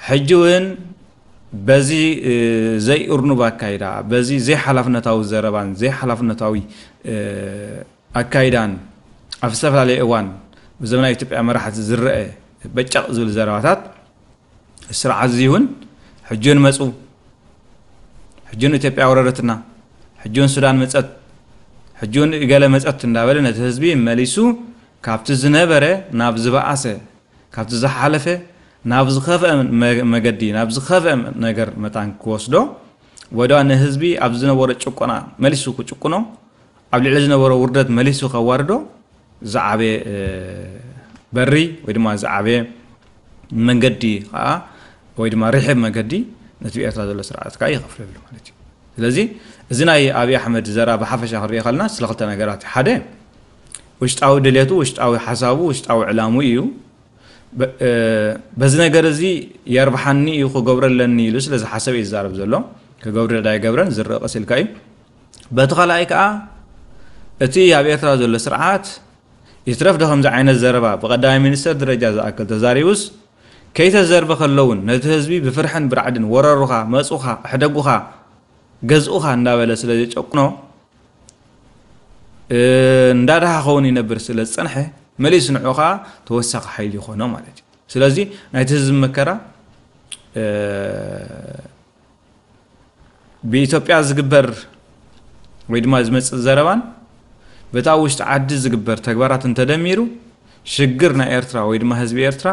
ሕጂ እውን በዚ ዘይእርኑብ ኣካይዳ፣ በዚ ዘይሓላፍነታዊ ዘረባን ዘይሓላፍነታዊ ኣካይዳን ኣብ ዝተፈላለየ እዋን ብዘመናዊ ኢትዮጵያ መራሕቲ ዝረኣ በጨቕ ዝብል ዘረባታት እዚ ስርዓት እዚ እውን ሕጂ እውን መፁ፣ ሕጂ እውን ኢትዮጵያ ኣውረረትና፣ ሕጂ እውን ሱዳን መፀት፣ ሕጂ እውን እገለ መፀት እንዳበለ ነቲ ህዝቢ መሊሱ ካብቲ ዝነበረ ናብ ዝበኣሰ ካብቲ ዝሓለፈ ናብ ዝኸፍኣ መገዲ ናብ ዝኸፍኣ ነገር መታን ክወስዶ ወይድኣ ንህዝቢ ኣብ ዝነበሮ ጭቆና መሊሱ ክጭቁኖ ኣብ ልዕሊ ዝነበሮ ውርደት መሊሱ ከዋርዶ ዝዓበየ በሪ ወይ ድማ ዝዓበየ መንገዲ ከዓ ወይ ድማ ርሕብ መገዲ ነቲ ኤርትራ ዘሎ ስርዓት ከዓ ይኸፍለሉ ማለት እዩ ስለዚ እዚ ናይ ኣብዪ ኣሕመድ ዘራ ብሓፈሻ ክንሪኦ ከለና ስለ ክልተ ነገራት ሓደ ውሽጣዊ ድሌቱ ውሽጣዊ ሓሳቡ ውሽጣዊ ዕላሙ እዩ በዚ ነገር እዚ የርብሓኒ እዩ ክገብሮ ኣለኒ ኢሉ ስለ ዝሓሰብ እዩ ዝዛረብ ዘሎ ክገብር ዳ ይገብረን ዝርእ ቀስ ኢልካ እዩ በቲ ካልኣይ ከዓ እቲ ኣብ ኤርትራ ዘሎ ስርዓት ይትረፍ ዶ ከምዚ ዓይነት ዘረባ ብቀዳማይ ሚኒስተር ደረጃ ዝኣክል ተዛሪቡስ ከይተዘርበ ከለውን ነቲ ህዝቢ ብፍርሕን ብራዕድን ወረሩኻ መፁኻ ኣሕደጉኻ ገዝኡኻ እንዳበለ ስለ ዘጨቁኖ እንዳደሃኸውን ይነብር ስለ ዝጸንሐ መሊስ ንዑ ከኣ ተወሳኺ ሓይሊ ይኾኖ ማለት እዩ ስለዚ ናይቲ ህዝቢ መከራ ብኢትዮጵያ ዝግበር ወይ ድማ ዝመፅእ ዘረባን በታ ውሽጢ ዓዲ ዝግበር ተግባራት እንተደሚሩ ሽግር ናይ ኤርትራ ወይ ድማ ህዝቢ ኤርትራ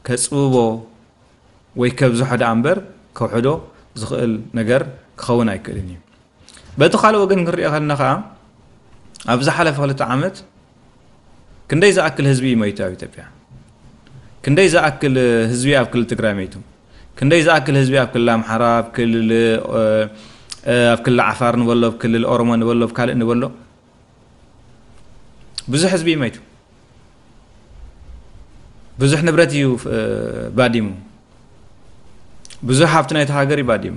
ከፅብቦ ወይ ከብዝሖ ደኣ እምበር ከውሕዶ ዝኽእል ነገር ክኸውን ኣይክእልን እዩ በቲ ካልእ ወገን ክንሪኦ ከለና ከኣ ኣብ ዝሓለፈ ክልተ ዓመት ክንደይ ዝኣክል ህዝቢ እዩ መይቱ ኣብ ኢትዮጵያ ክንደይ ዝኣክል ህዝቢ ኣብ ክልል ትግራይ መይቱ ክንደይ ዝኣክል ህዝቢ ኣብ ክልል ኣምሓራ ኣብ ክልል ኣብ ክልል ዓፋር ንበሎ ኣብ ክልል ኦሮሞ ንበሎ ኣብ ካልእ ንበሎ ብዙሕ ህዝቢ እዩ መይቱ ብዙሕ ንብረት እዩ ባዲሙ ብዙሕ ሃብቲ ናይቲ ሃገር እዩ ባዲሙ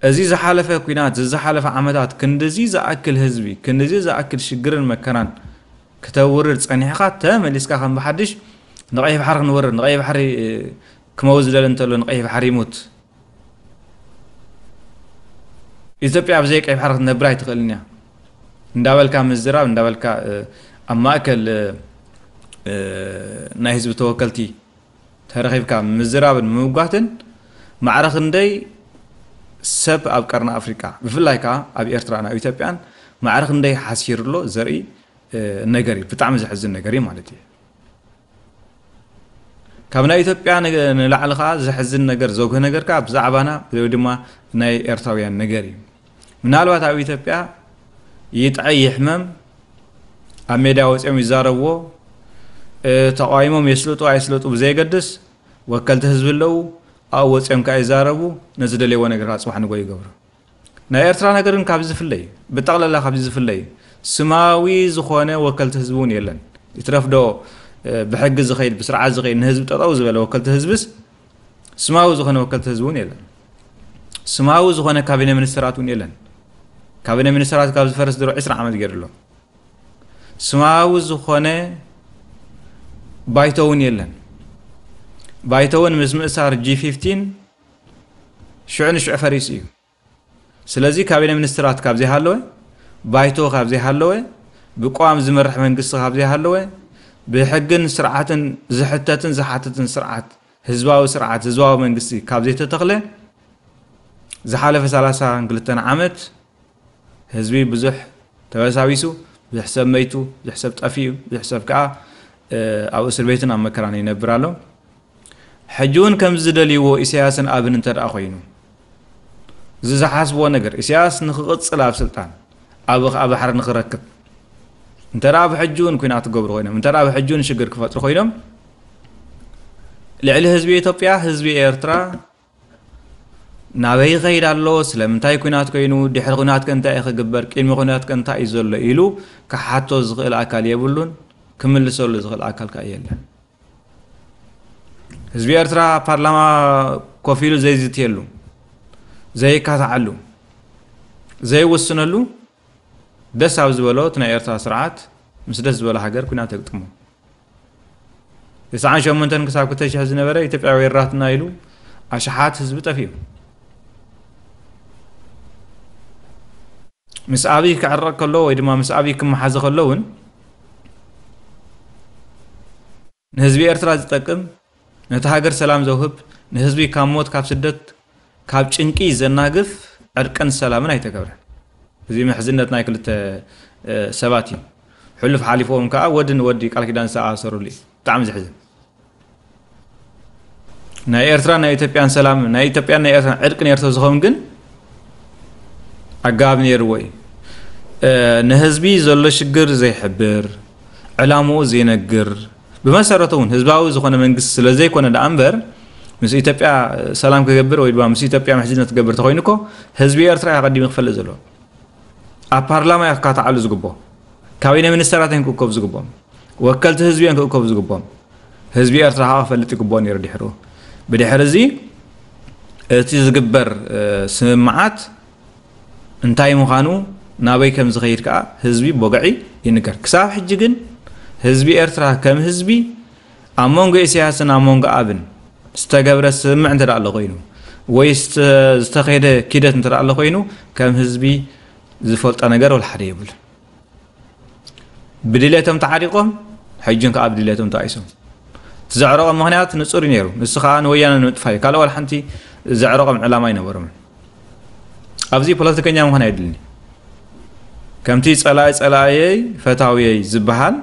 እዚ ዝሓለፈ ኩናት ዝዝሓለፈ ዓመታት ክንዲዚ ዝኣክል ህዝቢ ክንዲዚ ዝኣክል ሽግርን መከራን ክተውርድ ፀኒሕካ ተመሊስካ ከም ብሓድሽ ንቀይሕ ባሕሪ ክንወርድ ንቀይሕ ባሕሪ ክመውት ዝደለ እንተሎ ንቀይሕ ባሕሪ ይሙት ኢትዮጵያ ብዘይ ቀይ ባሕሪ ክትነብር ኣይትኽእልን እያ እንዳበልካ ምዝራብ እንዳበልካ ኣብ ማእከል ናይ ህዝቢ ተወከልቲ ተረኺብካ ምዝራብን ምምጓትን ማዕረ ክንደይ ሰብ ኣብ ቀርኒ ኣፍሪቃ ብፍላይ ከዓ ኣብ ኤርትራን ኣብ ኢትዮጵያን ማዕረ ክንደይ ሓሲሩ ኣሎ ዘርኢ ነገር እዩ ብጣዕሚ ዘሕዝን ነገር እዩ ማለት እዩ ካብ ናይ ኢትዮጵያ ንላዕሊ ከዓ ዘሕዝን ነገር ዘጉህ ነገር ከዓ ብዛዕባና ወይ ድማ ናይ ኤርትራውያን ነገር እዩ ምናልባት ኣብ ኢትዮጵያ ይጥዐ ይሕመም ኣብ ሜዳ ወፂኦም ይዛረብዎ ተቃዊሞም የስልጡ ኣይስልጡ ብዘየገድስ ወከልቲ ህዝቢ ኣለዉ ኣብኡ ወፂኦም ከዓ ይዛረቡ ነዝደልየዎ ነገር ከዓ ፅባሕ ንጎ ይገብሩ ናይ ኤርትራን ሃገርን ካብዚ ዝፍለይ ብጠቕለላ ካብዚ ዝፍለይ ስማዊ ዝኾነ ወከልቲ ህዝቢ እውን የለን ይትረፍ ዶ ብሕጊ ዝኸይድ ብስርዓት ዝኸይድ ንህዝቢ ጠጠው ዝበለ ወከልቲ ህዝብስ ስማዊ ዝኾነ ወከልቲ ህዝቢ እውን የለን ስማዊ ዝኾነ ካቢነ ሚኒስተራት እውን የለን ካቢነ ሚኒስተራት ካብ ዝፈርስ ድሮ 20 ዓመት ገይሩ ኣሎ ስማዊ ዝኾነ ባይቶ እውን የለን ባይቶ እውን ምስ ምእሳር ጂ 15 ሽዑ ንሽዑ ፈሪሱ እዩ ስለዚ ካቢነ ሚኒስትራት ካብ ዘይሃለወ ባይቶ ካብ ዘይሃለወ ብቋም ዝመርሕ መንግስቲ ካብ ዘይሃለወ ብሕግን ስርዓትን ዝሕተትን ዝሓትትን ስርዓት ህዝባዊ ስርዓት ህዝባዊ መንግስቲ ካብ ዘይተተኽለ ዝሓለፈ 32 ዓመት ህዝቢ ብዙሕ ተበሳቢሱ፣ ብዙሕ ሰብ መይቱ፣ ብዙሕ ሰብ ጠፊኡ፣ ብዙሕ ሰብ ከኣ ኣብ እስርቤትን ኣብ መከራን ይነብር ኣሎ። ሕጂውን ከምዚ ዝደልይዎ ኢሳያስን ኣብን እንተደኣ ኮይኑ እዚ ዝሓስብዎ ነገር ኢሳያስ ንክቕጽል ኣብ ስልጣን ኣብ ከኣ ባሕሪ ንክረክብ እንተ ብሕጂውን ኩናት ክገብሩ ኮይኖም እንተ ብሕጂውን ሽግር ክፈጥሩ ኮይኖም ልዕሊ ህዝቢ ኢትዮጵያ ህዝቢ ኤርትራ ናበይ ይኸይድ ኣሎ፣ ስለምንታይ ኲናት ኮይኑ፣ ድሕሪ ኲናትከ እንታይ እዩ ክግበር፣ ቅድሚ ኲናትከ እንታይ እዩ ዘሎ ኢሉ ክሓቶ ዝኽእል ኣካል የብሉን፣ ክምልሰሉ ዝኽእል ኣካል ከኣ የለን። ህዝቢ ኤርትራ ኣብ ፓርላማ ኮፍ ኢሉ ዘይዝትየሉ፣ ዘይካታዓሉ፣ ዘይውስነሉ ደስ ኣብ ዝበሎ እቲ ናይ ኤርትራ ስርዓት ምስ ደስ ዝበሎ ሃገር ኲናት የግጥሞ። ትስዓን ሸሞንተን ክሳብ ክልተ ሽሕ ዝነበረ ኢትዮጵያዊ ወራትና ኢሉ ኣሽሓት ህዝቢ ጠፊኡ ምስ ኣብይ ክዕረቕ ከሎ ወይ ድማ ምስ ኣብይ ክመሓዘ ከሎ እውን ንህዝቢ ኤርትራ ዝጠቅም ነታ ሃገር ሰላም ዘውህብ፣ ንህዝቢ ካብ ሞት ካብ ስደት ካብ ጭንቂ ዘናግፍ ዕርቅን ሰላምን ኣይተገብረን። እዚ ምሕዝነት ናይ ክልተ ሰባት እዩ። ሕሉፍ ሓሊፍዎም ከዓ ወዲ ንወዲ ቃል ኪዳን ዝተኣሳሰርሉ እዩ። ብጣዕሚ ዘሕዝን ናይ ኤርትራ ናይ ኢትዮጵያን ሰላም ናይ ኢትዮጵያን ናይ ኤርትራን ዕርቂ ነርቶ ዝኸውን ግን ኣገባብ ነይርዎ እዩ። ንህዝቢ ዘሎ ሽግር ዘይሕብር ዕላምኡ ዘይነግር ብመሰረቱ እውን ህዝባዊ ዝኾነ መንግስቲ ስለዘይኮነ ደኣ እምበር ምስ ኢትዮጵያ ሰላም ክገብር ወይ ድማ ምስ ኢትዮጵያ ምሕዝነት ክገብር ተኾይኑ እኮ ህዝቢ ኤርትራ እዩ ኣቐዲሙ ክፈልጥ ዘለዎ ኣብ ፓርላማ እዩ ክካታዓሉ ዝግብኦ ካቢነ ሚኒስተራት እዮም ክእከቡ ዝግብኦም ወከልቲ ህዝቢ እዮም ክእከቡ ዝግብኦም ህዝቢ ኤርትራ ከዓ ክፈልጥ ይግብኦ ነይሩ ድሕሩ ብድሕሪ እዚ እቲ ዝግበር ስምምዓት እንታይ ምዃኑ ናበይ ከም ዝኸይድ ከኣ ህዝቢ ቦገዒ ይንገር። ክሳብ ሕጂ ግን ህዝቢ ኤርትራ ከም ህዝቢ ኣብ መንጎ ኢሳያስን ኣብ መንጎ ኣብን ዝተገብረ ስምምዕ እንተ ኣሎ ኮይኑ ወይ ዝተኸደ ኪደት እንተ ኣሎ ኮይኑ ከም ህዝቢ ዝፈልጦ ነገር ወልሓደ የብሉን። ብድሌቶም ተዓሪቆም ሕጅን ከዓ ብድሌቶም ተኣይሶም እቲ ዘዕረቆም ምክንያት ንፁር እዩ ነይሩ ንሱ ከዓ ንወያነ ንምጥፋ እዩ ካልእ ዋላ ሓንቲ ዘዕረቆም ዕላማ ኣይነበሮም ኣብዚ ፖለቲከኛ ምዃን ኣይድልኒ ከምቲ ፀላይ ፀላእየይ ፈታውየይ ዝበሃል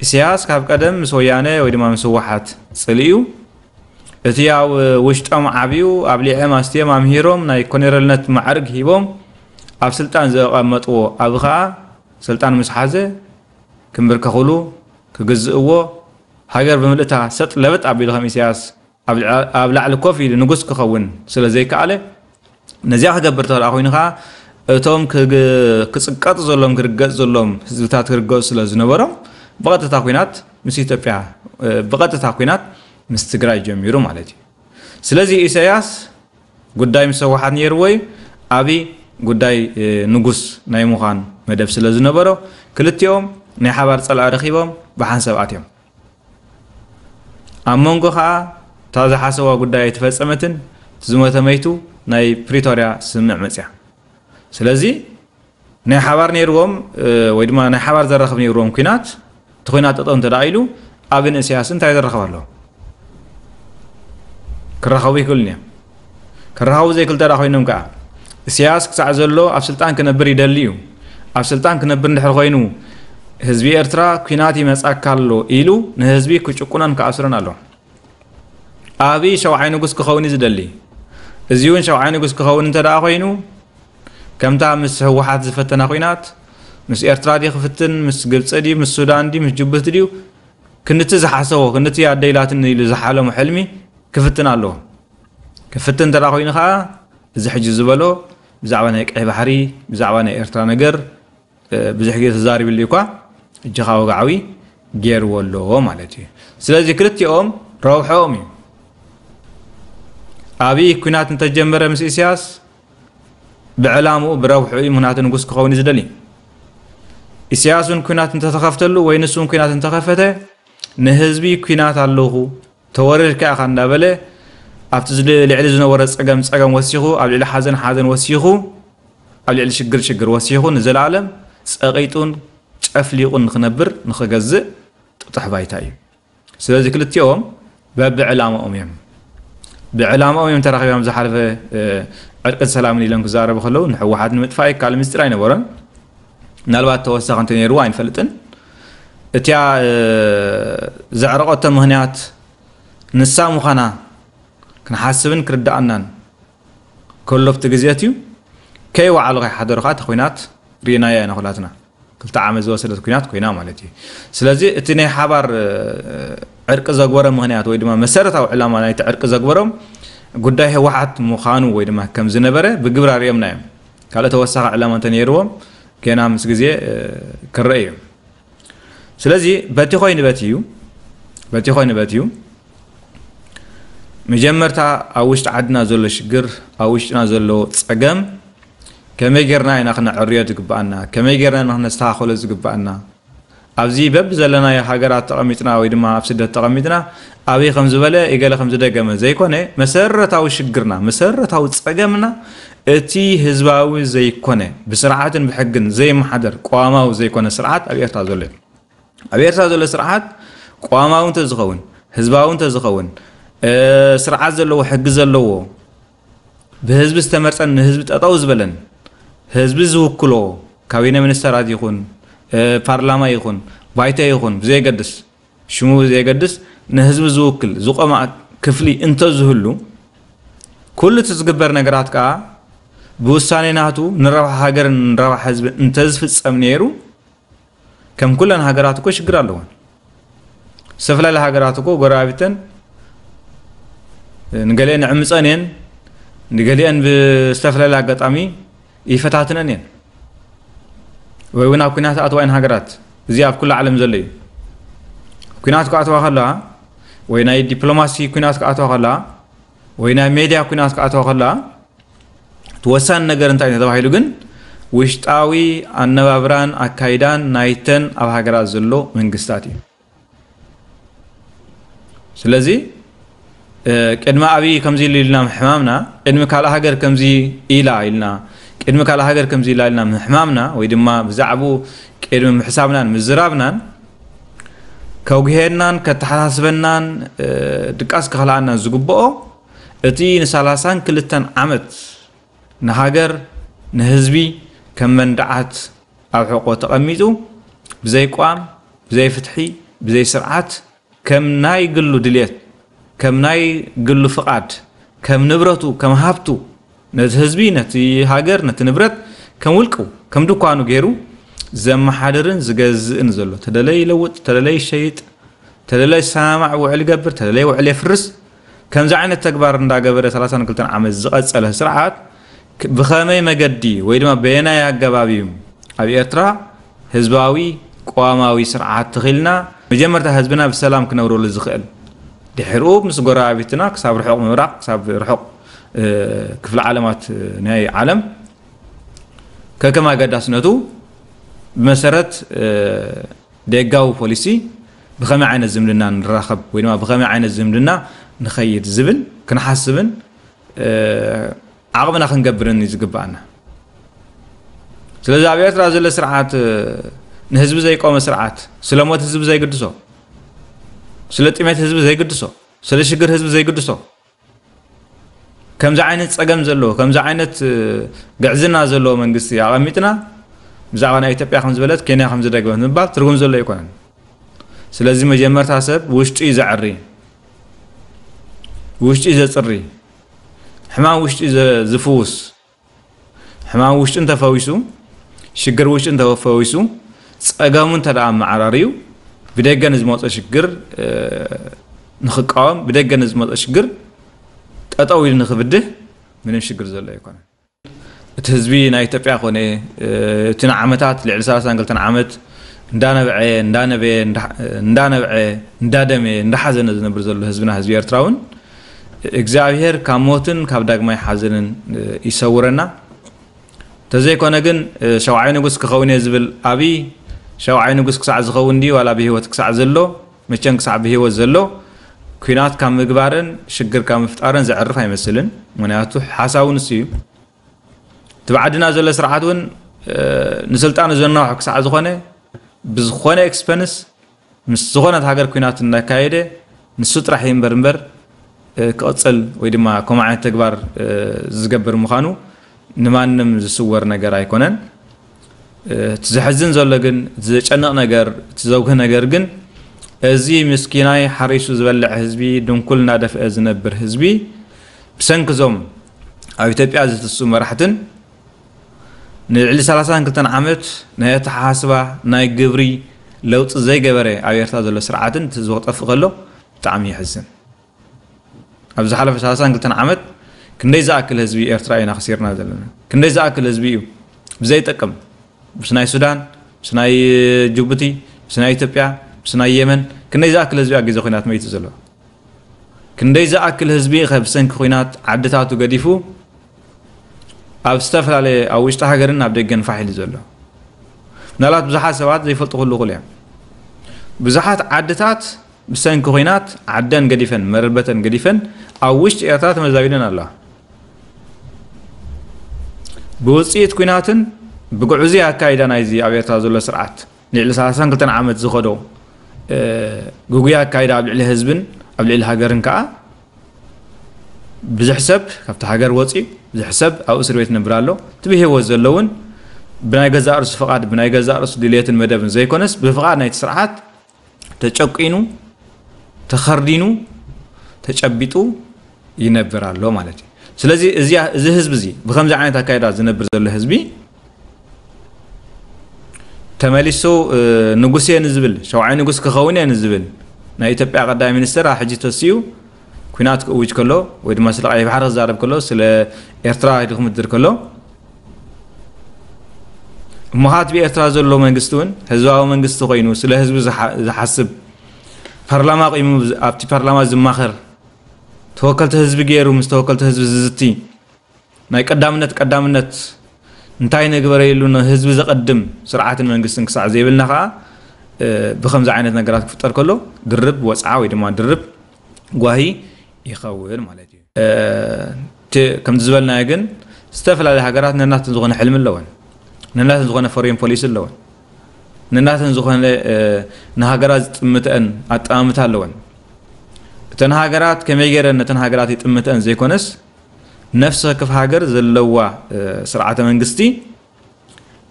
ኢሳያስ ካብ ቀደም ምስ ወያነ ወይ ድማ ምስ ህወሓት ፅልእዩ እቲ ኣብ ውሽጦም ዓብዩ ኣብሊዔም ኣስቲዬም ኣምሂሮም ናይ ኮኔረልነት ማዕርግ ሂቦም ኣብ ስልጣን ዘቐመጥዎ ኣቢ ከኣ ስልጣን ምስ ሓዘ ክንብርከኹሉ ክግዝእዎ ሃገር ብምልእታ ሰጥ ለበጥ ኣቢሉ ከም ኢሰያስ ኣብ ላዕሊ ኮፍ ኢሉ ንጉስ ክኸውን ስለ ዘይከኣለ ነዚኣ ክገብር ተላ ኮይኑ ከኣ እቶም ክጽቀጡ ዘሎም ክርገጽ ዘሎም ህዝብታት ክርገጹ ስለ ዝነበሮም ብቐጥታ ኩናት ምስ ኢትዮጵያ ብቐጥታ ኩናት ምስ ትግራይ ጀሚሩ ማለት እዩ። ስለዚ ኢሳያስ ጉዳይ ምስ ህወሓት ነይርዎ እዩ። ኣብይ ጉዳይ ንጉስ ናይ ምዃን መደብ ስለ ዝነበሮ ክልቲኦም ናይ ሓባር ጸላኢ ረኺቦም ብሓንሳብ ኣትዮም። ኣብ መንጎ ከኣ እታ ዝሓሰዋ ጉዳይ ኣይተፈጸመትን ዝሞተ መይቱ ናይ ፕሪቶርያ ስምምዕ መጽያ ስለዚ ናይ ሓባር ነይርዎም ወይ ድማ ናይ ሓባር ዘራኽብ ነይርዎም ኩናት እቲ ኩናት ጠጠው እንተ ኢሉ ኣብን እስያስ እንታይ ዘራኽብ ኣለዎ ክራኸቡ ይኽእሉን እዮም ክረሃቡ ዘይክልተራ ኮይኖም ከኣ እሰያስ ክሳዕ ዘሎ ኣብ ስልጣን ክነብር ይደሊ እዩ ኣብ ስልጣን ክነብር እንድሕር ኮይኑ ህዝቢ ኤርትራ ኩናት ይመጻካ ኣሎ ኢሉ ንህዝቢ ክጭቁነን ክኣስረን ኣሎ ኣብይ ሸውዓይ ንጉስ ክኸውን እዩ ዝደሊ እዚ እውን ሸውዓይ ንጉስ ክኸውን እንተ ደኣ ኮይኑ ከምታ ምስ ህወሓት ዝፈተና ኩናት ምስ ኤርትራ ድዩ ክፍትን ምስ ግብፂ ድዩ ምስ ሱዳን ድዩ ምስ ጅቡቲ ድዩ ክንድቲ ዝሓሰቦ ክንድቲ ኣደይላትኒ ኢሉ ዝሓለሙ ሕልሚ ክፍትን ኣለዎ ክፍትን እንተ ኮይኑ ከኣ እዚ ሕጂ ዝበሎ ብዛዕባ ናይ ቀይሕ ባሕሪ ብዛዕባ ናይ ኤርትራ ነገር ብዙሕ ግዜ ተዛሪብሉ እኳ እጅኻ ወግዓዊ ገይርዎ ኣሎ ማለት እዩ ስለዚ ክልቲኦም ረብሐኦም እዩ ኣብይ ኩናት እንተጀመረ ምስ ኢሳያስ ብዕላምኡ ብረብሑ እዩ ምክንያቱ ንጉስ ክኸውን እዩ ዝደሊ ኢሳያስ እውን ኩናት እንተተኸፍተሉ ወይ ንሱ እውን ኩናት እንተኸፈተ ንህዝቢ ኩናት ኣለኹ ተወሪርካ ኢኻ እንዳበለ ኣብቲ ልዕሊ ዝነበሮ ጸገም ጸገም ወሲኹ፣ ኣብ ልዕሊ ሓዘን ሓዘን ወሲኹ፣ ኣብ ልዕሊ ሽግር ሽግር ወሲኹ ንዘለኣለም ጸቒጡን ጨፍሊቑን ንኽነብር ንኽገዝእ ጥጡሕ ባይታ እዩ። ስለዚ ክልቲኦም በብዕላማኦም እዮም ብዕላማኦም እዮም ተራኺቦም ዝሓለፈ ዕርቅን ሰላምን ኢሎም ክዛረቡ ከለዉ ንሕወሓት ንምጥፋእ ይከኣል ምስጢር ኣይነበሮን። ምናልባት ተወሳኺ እንተ ነይርዎ ኣይንፈልጥን እቲያ ዘዕረቐቶ ምክንያት ንሳ ምዃና ክንሓስብን ክርዳኣናን ከሎፍቲ ግዜት እዩ ከይወዓሉ ከይሓደሩ ከዓ እቲ ኩናት ርኢናያ ኢና ኩላትና ክልተ ዓመት ዝወሰደት ኩናት ኮይና ማለት እዩ ስለዚ እቲ ናይ ሓባር ዕርቂ ዘግበረ ምክንያት ወይ ድማ መሰረታዊ ዕላማ ናይቲ ዕርቂ ዘግበሮም ጉዳይ ህወሓት ምዃኑ ወይ ድማ ከም ዝነበረ ብግብሪ ኣርእዮምና እዮም ካልእ ተወሳኺ ዕላማ እንተነይርዎም ገና ምስ ግዜ ክረአ እዩ ስለዚ በቲ ኮይኑ በት እዩ በቲ ኮይኑ በት እዩ መጀመርታ ኣብ ውሽጢ ዓድና ዘሎ ሽግር ኣብ ውሽጥና ዘሎ ፀገም ከመይ ጌርና ኢና ክነዕርዮ ዝግባኣና ከመይ ጌርና ኢና ክነስተኻኸሎ ዝግባኣና ኣብዚ በብዘለናዮ ሃገራት ተቐሚጥና ወይ ድማ ኣብ ስደት ተቐሚጥና ኣበይ ከም ዝበለ ኢገለ ከም ዝደገመ ዘይኮነ መሰረታዊ ሽግርና መሰረታዊ ጸገምና እቲ ህዝባዊ ዘይኮነ ብስርዓትን ብሕግን ዘይመሓደር ቀዋማዊ ዘይኮነ ስርዓት ኣብ ኤርትራ ዘሎ እዩ። ኣብ ኤርትራ ዘሎ ስርዓት ቀዋማዊ እንተዝኸውን ህዝባዊ እንተዝኸውን ስርዓት ዘለዎ ሕጊ ዘለዎ ብህዝቢ ዝተመርጸን ንህዝቢ ጠጠው ዝበለን ህዝቢ ዝውክሎ ካቢነ ሚኒስተራት ይኹን ፓርላማ ይኹን ባይቶ ይኹን ብዘየገድስ ሽሙ ብዘየገድስ ንህዝቢ ዝውክል ዝቆመ ክፍሊ እንተዝህሉ ኩሉ እቲ ዝግበር ነገራት ከዓ ብውሳኔ ናቱ ንረብሓ ሃገርን ንረብሓ ህዝብን እንተዝፍጸም ነይሩ ከም ኩለን ሃገራት እኮ ሽግር ኣለወን ዝተፈላለያ ሃገራት እኮ ጎረባቢተን ንገሊአን ዕምፀን እየን ንገሊአን ብዝተፈላለየ ኣጋጣሚ ይፈታትነን እየን ወይ እውን ኣብ ኩናት ኣትዋ እየን ሃገራት እዚ ኣብ ኩሉ ዓለም ዘሎ እዩ ኩናት ክኣትዋ ከለዋ ወይ ናይ ዲፕሎማሲ ኩናት ክኣትዋ ከለዋ ወይ ናይ ሜድያ ኩናት ክኣተዋ ከለዋ እቲ ወሳኒ ነገር እንታይ እዩ ተባሂሉ ግን ውሽጣዊ ኣነባብራን ኣካይዳን ናይተን ኣብ ሃገራት ዘሎ መንግስታት እዩ ስለዚ ቅድሚ ኣብይ ከምዚ ኢሉ ኢልና ምሕማምና ቅድሚ ካልእ ሃገር ከምዚ ኢላ ኢልና ቅድሚ ካልእ ሃገር ከምዚ ኢላ ኢልና ምሕማምና ወይ ድማ ብዛዕቡ ቅድሚ ምሕሳብናን ምዝራብናን ከጉሄናን ከተሓሳስበናን ድቃስ ክኸልኣናን ዝግብኦ እቲ ንሰላሳን ክልተን ዓመት ንሃገር ንህዝቢ ከም መንድዓት ኣብ ሕቆ ተቐሚጡ ብዘይ ቋም ብዘይ ፍትሒ ብዘይ ስርዓት ከም ናይ ግሉ ድልየት ከም ናይ ግሉ ፍቓድ ከም ንብረቱ ከም ሃብቱ ነቲ ህዝቢ፣ ነቲ ሃገር፣ ነቲ ንብረት ከም ውልቁ፣ ከም ድኳኑ ገይሩ ዘመሓድርን ዝገዝእን ዘሎ። ተደለየ ይለውጥ፣ ተደለየ ይሸይጥ፣ ተደለየ ዝሰማማዕ ውዕል ይገብር፣ ተደለየ ውዕል የፍርስ። ከምዚ ዓይነት ተግባር እንዳገበረ ሰላሳን ክልተን ዓመት ዝቐጸለ ስርዓት ብኸመይ መገዲ ወይ ድማ በየናይ ኣገባብ እዩ ኣብ ኤርትራ ህዝባዊ ቅዋማዊ ስርዓት ተኺልና መጀመርታ ህዝብና ብሰላም ክነብረሉ ዝኽእል? ድሒርኡ ምስ ጎረባቢትና ክሳብ ርሑቕ ምብራቕ፣ ክሳብ ርሑቕ ክፍለ ዓለማት ናይ ዓለም ከከም ኣገዳስነቱ ብመሰረት ደጋዊ ፖሊሲ ብኸመይ ዓይነት ዝምድና ንራኸብ ወይ ድማ ብኸመይ ዓይነት ዝምድና ንኸይድ ዝብል ክንሓስብን ዓቕምና ክንገብርን እዩ ዝግባኣና ስለዚ ኣብ ኤርትራ ዘሎ ስርዓት ንህዝቢ ዘይቆመ ስርዓት ስለ ሞት ህዝቢ ዘይግድሶ ስለ ጥሜት ህዝቢ ዘይግድሶ ስለ ሽግር ህዝቢ ዘይግድሶ ከምዚ ዓይነት ፀገም ዘለዎ ከምዚ ዓይነት ግዕዝና ዘለዎ መንግስቲ ኣቐሚጥና ብዛዕባ ናይ ኢትዮጵያ ከም ዝበለት ኬንያ ከም ዝደግመት ምባል ትርጉም ዘሎ ኣይኮነን ስለዚ መጀመርታ ሰብ ውሽጡ እዩ ዘዕሪ ውሽጡ እዩ ዘፅሪ ሕማም ውሽጡ እዩ ዝፍውስ ሕማም ውሽጢ እንተፈዊሱ ሽግር ውሽጢ እንተፈዊሱ ፀገሙ እንተ መዓራርዩ ብደገ ንዝመፆ ሽግር ንክቃወም ብደገ ንዝመፆ ሽግር ጠጠው ኢሉ ንክብድህ ምንም ሽግር ዘሎ ኣይኮነ እቲ ህዝቢ ናይ ኢትዮጵያ ኮነ እቲ ንዓመታት ልዕሊ 32 ዓመት እንዳነበዐ እንዳነበየ እንዳነበዐ እንዳደመየ እንዳሓዘነ ዝነብር ዘሎ ህዝብና ህዝቢ ኤርትራ እውን እግዚኣብሔር ካብ ሞትን ካብ ዳግማይ ሓዘንን ይሰውረና ተዘይኮነ ግን ሸውዓይ ንጉስ ክኸውን እየ ዝብል ኣብይ ሸውዓይ ንጉስ ክሳዕ ዝኸውን ድዩ ዋላ ብሂወት ክሳዕ ዘሎ መቸን ክሳዕ ብሂወት ዘሎ ኩናት ካብ ምግባርን ሽግር ካብ ምፍጣርን ዘዕርፍ ኣይመስልን ምክንያቱ ሓሳቡ ንሱ እዩ እቲ ብዓድና ዘሎ ስርዓት እውን ንስልጣኑ ዘናውሑ ክሳዕ ዝኾነ ብዝኾነ ኤክስፐንስ ምስ ዝኾነት ሃገር ኩናት እንዳካየደ ንሱ ጥራሕ ይንበር እምበር ክቕጽል ወይ ድማ ከምኡ ዓይነት ተግባር ዝገብር ምዃኑ ንማንም ዝስወር ነገር ኣይኮነን። እቲ ዘሕዝን ዘሎ ግን እቲ ዘጨንቕ ነገር እቲ ዘጉህ ነገር ግን እዚ ምስኪናይ ሓሪሱ ዝበልዕ ህዝቢ ድንኩል እናደፍአ ዝነብር ህዝቢ ብሰንኪ እዞም ኣብ ኢትዮጵያ ዝትስኡ መራሕትን ንልዕሊ ሰላሳን ክልተን ዓመት ናይ ኣተሓሳስባ ናይ ግብሪ ለውጢ ዘይገበረ ኣብ ኤርትራ ዘሎ ስርዓትን እቲ ህዝቢ ክጠፍእ ከሎ ብጣዕሚ የሕዝን። ኣብ ዝሓለፈ ሰላሳን ክልተን ዓመት ክንደይ ዝኣክል ህዝቢ ኤርትራ ኢና ክሲርና ዘለና? ክንደይ ዝኣክል ህዝቢ እዩ ብዘይጠቅም ምስ ናይ ሱዳን ምስ ናይ ጅቡቲ ምስ ናይ ኢትዮጵያ ምስ ናይ የመን ክንደይ ዝኣክል ህዝቢ ኣብ ግዜ ኩናት መይቱ ዘሎ? ክንደይ ዝኣክል ህዝቢ ኸ ብሰንኪ ኩናት ዓድታቱ ገዲፉ ኣብ ዝተፈላለየ ኣብ ውሽጢ ሃገርን ኣብ ደገን ፋሕ ኢሉ ዘሎ ምናልባት ብዙሓት ሰባት ዘይፈልጡ ክህሉ ይኽእሉ እዮም ብዙሓት ዓድታት ብሰንኪ ኩናት ዓደን ገዲፈን መረበተን ገዲፈን ኣብ ውሽጢ ኤርትራ ተመዛቢለን ኣለዋ ብውፅኢት ኩናትን ብግዕዙ ኣካይዳ ናይዚ ኣብ ኤርትራ ዘሎ ስርዓት ንልዕሊ 32 ዓመት ዝኸዶ ጉጉይ ኣካይዳ ኣብ ልዕሊ ህዝብን ኣብ ልዕሊ ሃገርን ከዓ ብዙሕ ሰብ ካብቲ ሃገር ወፅዩ ብዙሕ ሰብ ኣብ እስር ቤት ነብር ኣሎ እቲ ብሂወት ዘሎ እውን ብናይ ገዛእ ርእሱ ፍቓድ ብናይ ገዛእ ርእሱ ድልየትን መደብን ዘይኮነስ ብፍቓድ ናይቲ ስርዓት ተጨቂኑ ተኸርዲኑ ተጨቢጡ ይነብር ኣሎ ማለት እዩ ስለዚ እዚ ህዝቢ እዚ ብከምዚ ዓይነት ኣካይዳ ዝነብር ዘሎ ህዝቢ ተመሊሱ ንጉስ እየ ንዝብል ሸውዓይ ንጉስ ክኸውን እየ ንዝብል ናይ ኢትዮጵያ ቀዳማይ ሚኒስትር ኣብ ሕጂ ተሲኡ ኩናት ክእውጅ ከሎ ወይ ድማ ስለ ቀይሕ ባሕሪ ክዛረብ ከሎ ስለ ኤርትራ ኢሉ ክምድር ከሎ እሞ ከዓ እቲ ብኤርትራ ዘሎ መንግስቲ እውን ህዝባዊ መንግስቲ ኮይኑ ስለ ህዝቢ ዝሓስብ ፓርላማ ቂሙ ኣብቲ ፓርላማ ዝማኸር ተወከልቲ ህዝቢ ገይሩ ምስ ተወከልቲ ህዝቢ ዝዝቲ ናይ ቀዳምነት ቀዳምነት እንታይ ንግበረይሉ ንህዝቢ ዘቐድም ስርዓትን መንግስትን ክሳዕ ዘይብልና ከኣ ብከምዚ ዓይነት ነገራት ክፍጠር ከሎ ድርብ ወጽዓ ወይ ድማ ድርብ ጓሂ ይኸውን ማለት እዩ። እቲ ከምቲ ዝበልናዮ ግን ዝተፈላለያ ሃገራት ነናተን ዝኾነ ሕልሚ ኣለወን፣ ነናተን ዝኾነ ፎሬን ፖሊሲ ኣለወን፣ ነናተን ዝኾነ ንሃገራት ዝጥምተአን ኣጠማምታ ኣለወን። እተን ሃገራት ከመይ ገይረን ነተን ሃገራት ይጥምተአን ዘይኮነስ ነፍሲ ወከፍ ሃገር ዘለዋ ስርዓተ መንግስቲ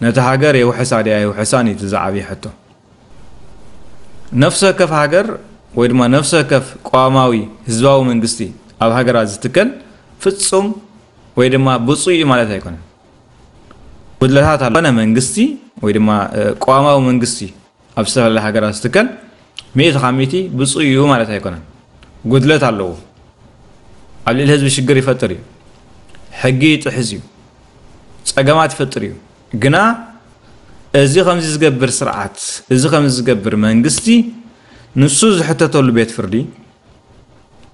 ነቲ ሃገር የውሕሳ ድያ የውሕሳን እዩ እቲ ዝዓብይ ሕቶ። ነፍሲ ወከፍ ሃገር ወይ ድማ ነፍሲ ወከፍ ቅዋማዊ ህዝባዊ መንግስቲ ኣብ ሃገራት ዝትከል ፍጹም ወይ ድማ ብፁዕ እዩ ማለት ኣይኮነን። ጉድለታት ኣሎ። ኮነ መንግስቲ ወይ ድማ ቅዋማዊ መንግስቲ ኣብ ዝተፈላለያ ሃገራት ዝትከል ሚእቲ ካብ ሚእቲ ብፁይ እዩ ማለት ኣይኮነን ጉድለት ኣለዎ ኣብ ልዕሊ ህዝቢ ሽግር ይፈጥር እዩ ሕጊ ይጥሕዝ እዩ ፀገማት ይፈጥር እዩ ግና እዚ ከምዚ ዝገብር ስርዓት እዚ ከምዚ ዝገብር መንግስቲ ንሱ ዝሕተተሉ ቤት ፍርዲ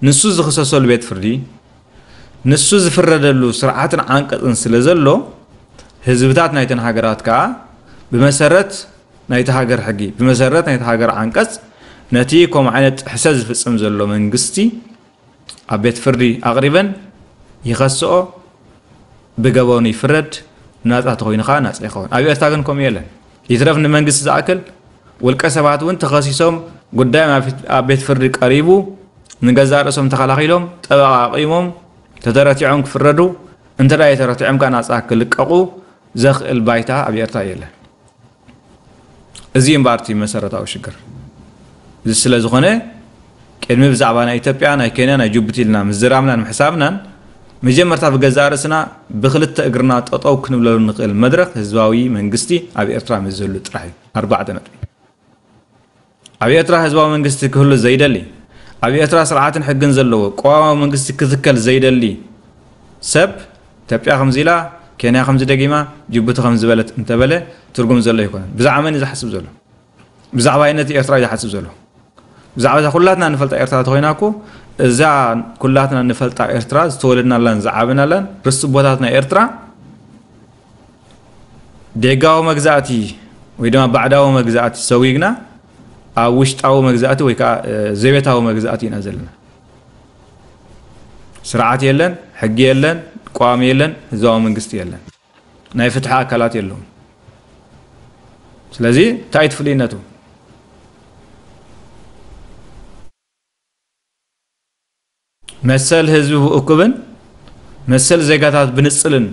ንሱ ዝኽሰሰሉ ቤት ፍርዲ ንሱ ዝፍረደሉ ስርዓትን ዓንቀፅን ስለ ዘሎ ህዝብታት ናይተን ሃገራት ከዓ ብመሰረት ናይታ ሃገር ሕጊ፣ ብመሰረት ናይታ ሃገር ዓንቀጽ፣ ነቲ ከምኡ ዓይነት ጥሕሰት ዝፍጽም ዘሎ መንግስቲ ኣብ ቤት ፍርዲ ኣቕሪበን ይኸስኦ፣ ብገበኑ ይፍረድ፣ ናጻ ተኾይኑ ከኣ ናጻ ይኸውን። ኣብ ኤርትራ ግን ከምኡ የለን። ይትረፍ ንመንግስቲ ዝኣክል ውልቀ ሰባት እውን ተኸሲሶም ጉዳዮም ኣብ ቤት ፍርዲ ቀሪቡ ንገዛእ ርእሶም ተኸላኺሎም ጠበቓ ኣቚሞም ተተረቲዖም ክፍረዱ እንተ ኣይተረቲዖም ከኣ ናጻ ክልቀቑ ዘኽእል ባይታ ኣብ ኤርትራ የለን። እዚ እምበኣር እቲ መሰረታዊ ሽግር እዚ ስለ ዝኾነ ቅድሚ ብዛዕባ ናይ ኢትዮጵያ ናይ ኬንያ ናይ ጅቡቲ ኢልና ምዝራብናን ምሕሳብናን መጀመርታ ብገዛእ ርእስና ብክልተ እግርና ጠጠው ክንብለሉ ንኽእል መድረኽ ህዝባዊ መንግስቲ ኣብ ኤርትራ ምስ ዝህሉ ጥራሕ እዩ ኣርባዕተ ነጥቢ ኣብ ኤርትራ ህዝባዊ መንግስቲ ክህሉ ዘይደሊ፣ ኣብ ኤርትራ ስርዓትን ሕግን ዘለዎ ቅዋማዊ መንግስቲ ክትከል ዘይደሊ ሰብ፣ ኢትዮጵያ ከምዚ ኢላ፣ ኬንያ ከምዚ ደጊማ፣ ጅቡቲ ከምዚ በለት እንተበለ ትርጉም ዘሎ ኣይኮነን። ብዛዕባ መን'ዩ ዝሓስብ ዘሎ? ብዛዕባይነት ኤርትራ'ዩ ዝሓስብ ዘሎ። ብዛዕባ'ዛ ኩላትና እንፈልጣ ኤርትራ ተኾይና እኮ፣ እዛ ኩላትና እንፈልጣ ኤርትራ፣ ዝተወለድናላን ዝዓበናላን ርስቲ ቦታትና ኤርትራ፣ ደጋዊ መግዛእቲ ወይ ድማ ባዕዳዊ መግዛእቲ ሰዊግና ኣብ ውሽጣዊ መግዛእቲ ወይ ከዓ ዘቤታዊ መግዛእቲ ኢና ዘለና። ስርዓት የለን፣ ሕጊ የለን፣ ቋሚ የለን፣ ህዝባዊ መንግስቲ የለን፣ ናይ ፍትሒ ኣካላት የለውም። ስለዚ እንታይ ትፍልይነቱ መሰል ህዝቢ ብእኩብን መሰል ዜጋታት ብንጽልን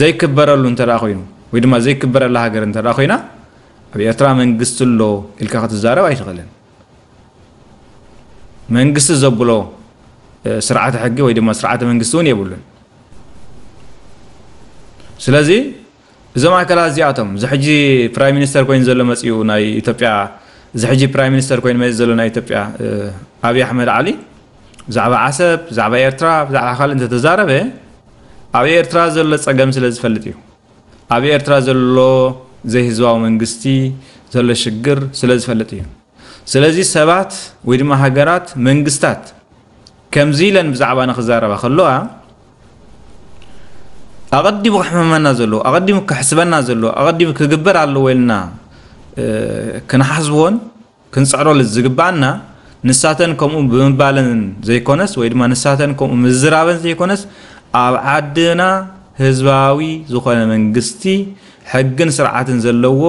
ዘይክበረሉ እንተ ኮይኑ ወይ ድማ ዘይክበረላ ሃገር እንተ ኮይና ኣብ ኤርትራ መንግስቲ ኣሎ ኢልካ ክትዛረብ ኣይትኽእልን። መንግስቲ ዘብሎ ስርዓተ ሕጊ ወይ ድማ ስርዓተ መንግስቲ እውን የብሉን። ስለዚ እዞም ኣካላት እዚኣቶም እዚ ሕጂ ፕራይም ሚኒስተር ኮይኑ ዘሎ መጺኡ ናይ ኢትዮጵያ እዚ ሕጂ ፕራይም ሚኒስተር ኮይኑ መጺኡ ዘሎ ናይ ኢትዮጵያ ኣብይ ኣሕመድ ዓሊ ብዛዕባ ዓሰብ ብዛዕባ ኤርትራ ብዛዕባ ካልእ እንተተዛረበ ኣብ ኤርትራ ዘሎ ጸገም ስለ ዝፈልጥ እዩ ኣብ ኤርትራ ዘሎ ዘይህዝባዊ መንግስቲ ዘሎ ሽግር ስለ ዝፈልጥ እዩ ስለዚ ሰባት ወይ ድማ ሃገራት መንግስታት ከምዚ ኢለን ብዛዕባና ክዛረባ ከለዋ ኣቐዲሙ ክሕመመና ዘለዎ ኣቐዲሙ ክሕስበና ዘለዎ ኣቐዲሙ ክግበር ኣለዎ ኢልና ክንሓስቦን ክንፅዕረሉ ዝግባኣና ንሳተን ከምኡ ብምባለን ዘይኮነስ ወይ ድማ ንሳተን ከምኡ ምዝራበን ዘይኮነስ ኣብ ዓድና ህዝባዊ ዝኾነ መንግስቲ ሕግን ስርዓትን ዘለዎ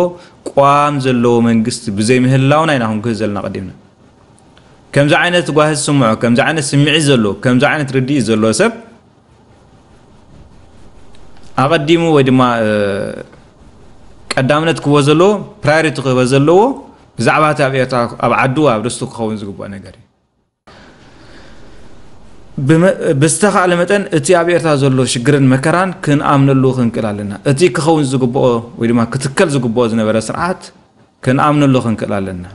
ቕዋም ዘለዎ መንግስቲ ብዘይ ምህላውና ኢና ክንጉህይ ዘለና ቀዲምና ከምዚ ዓይነት ጓሂ ዝስምዖ ከምዚ ዓይነት ስምዒት ዘለዎ ከምዚ ዓይነት ርድኢት ዘለዎ ሰብ ኣቐዲሙ ወይ ድማ ቀዳምነት ክህቦ ዘለዎ ፕራዮሪቲ ክህቦ ዘለዎ ብዛዕባ እቲ ኣብ ኤርትራ ኣብ ዓዱ ኣብ ርስቱ ክኸውን ዝግብኦ ነገር እዩ ብዝተኻእለ መጠን እቲ ኣብ ኤርትራ ዘሎ ሽግርን መከራን ክንኣምነሉ ክንክእል ኣለና እቲ ክኸውን ዝግብኦ ወይ ድማ ክትከል ዝግብኦ ዝነበረ ስርዓት ክንኣምነሉ ክንክእል ኣለና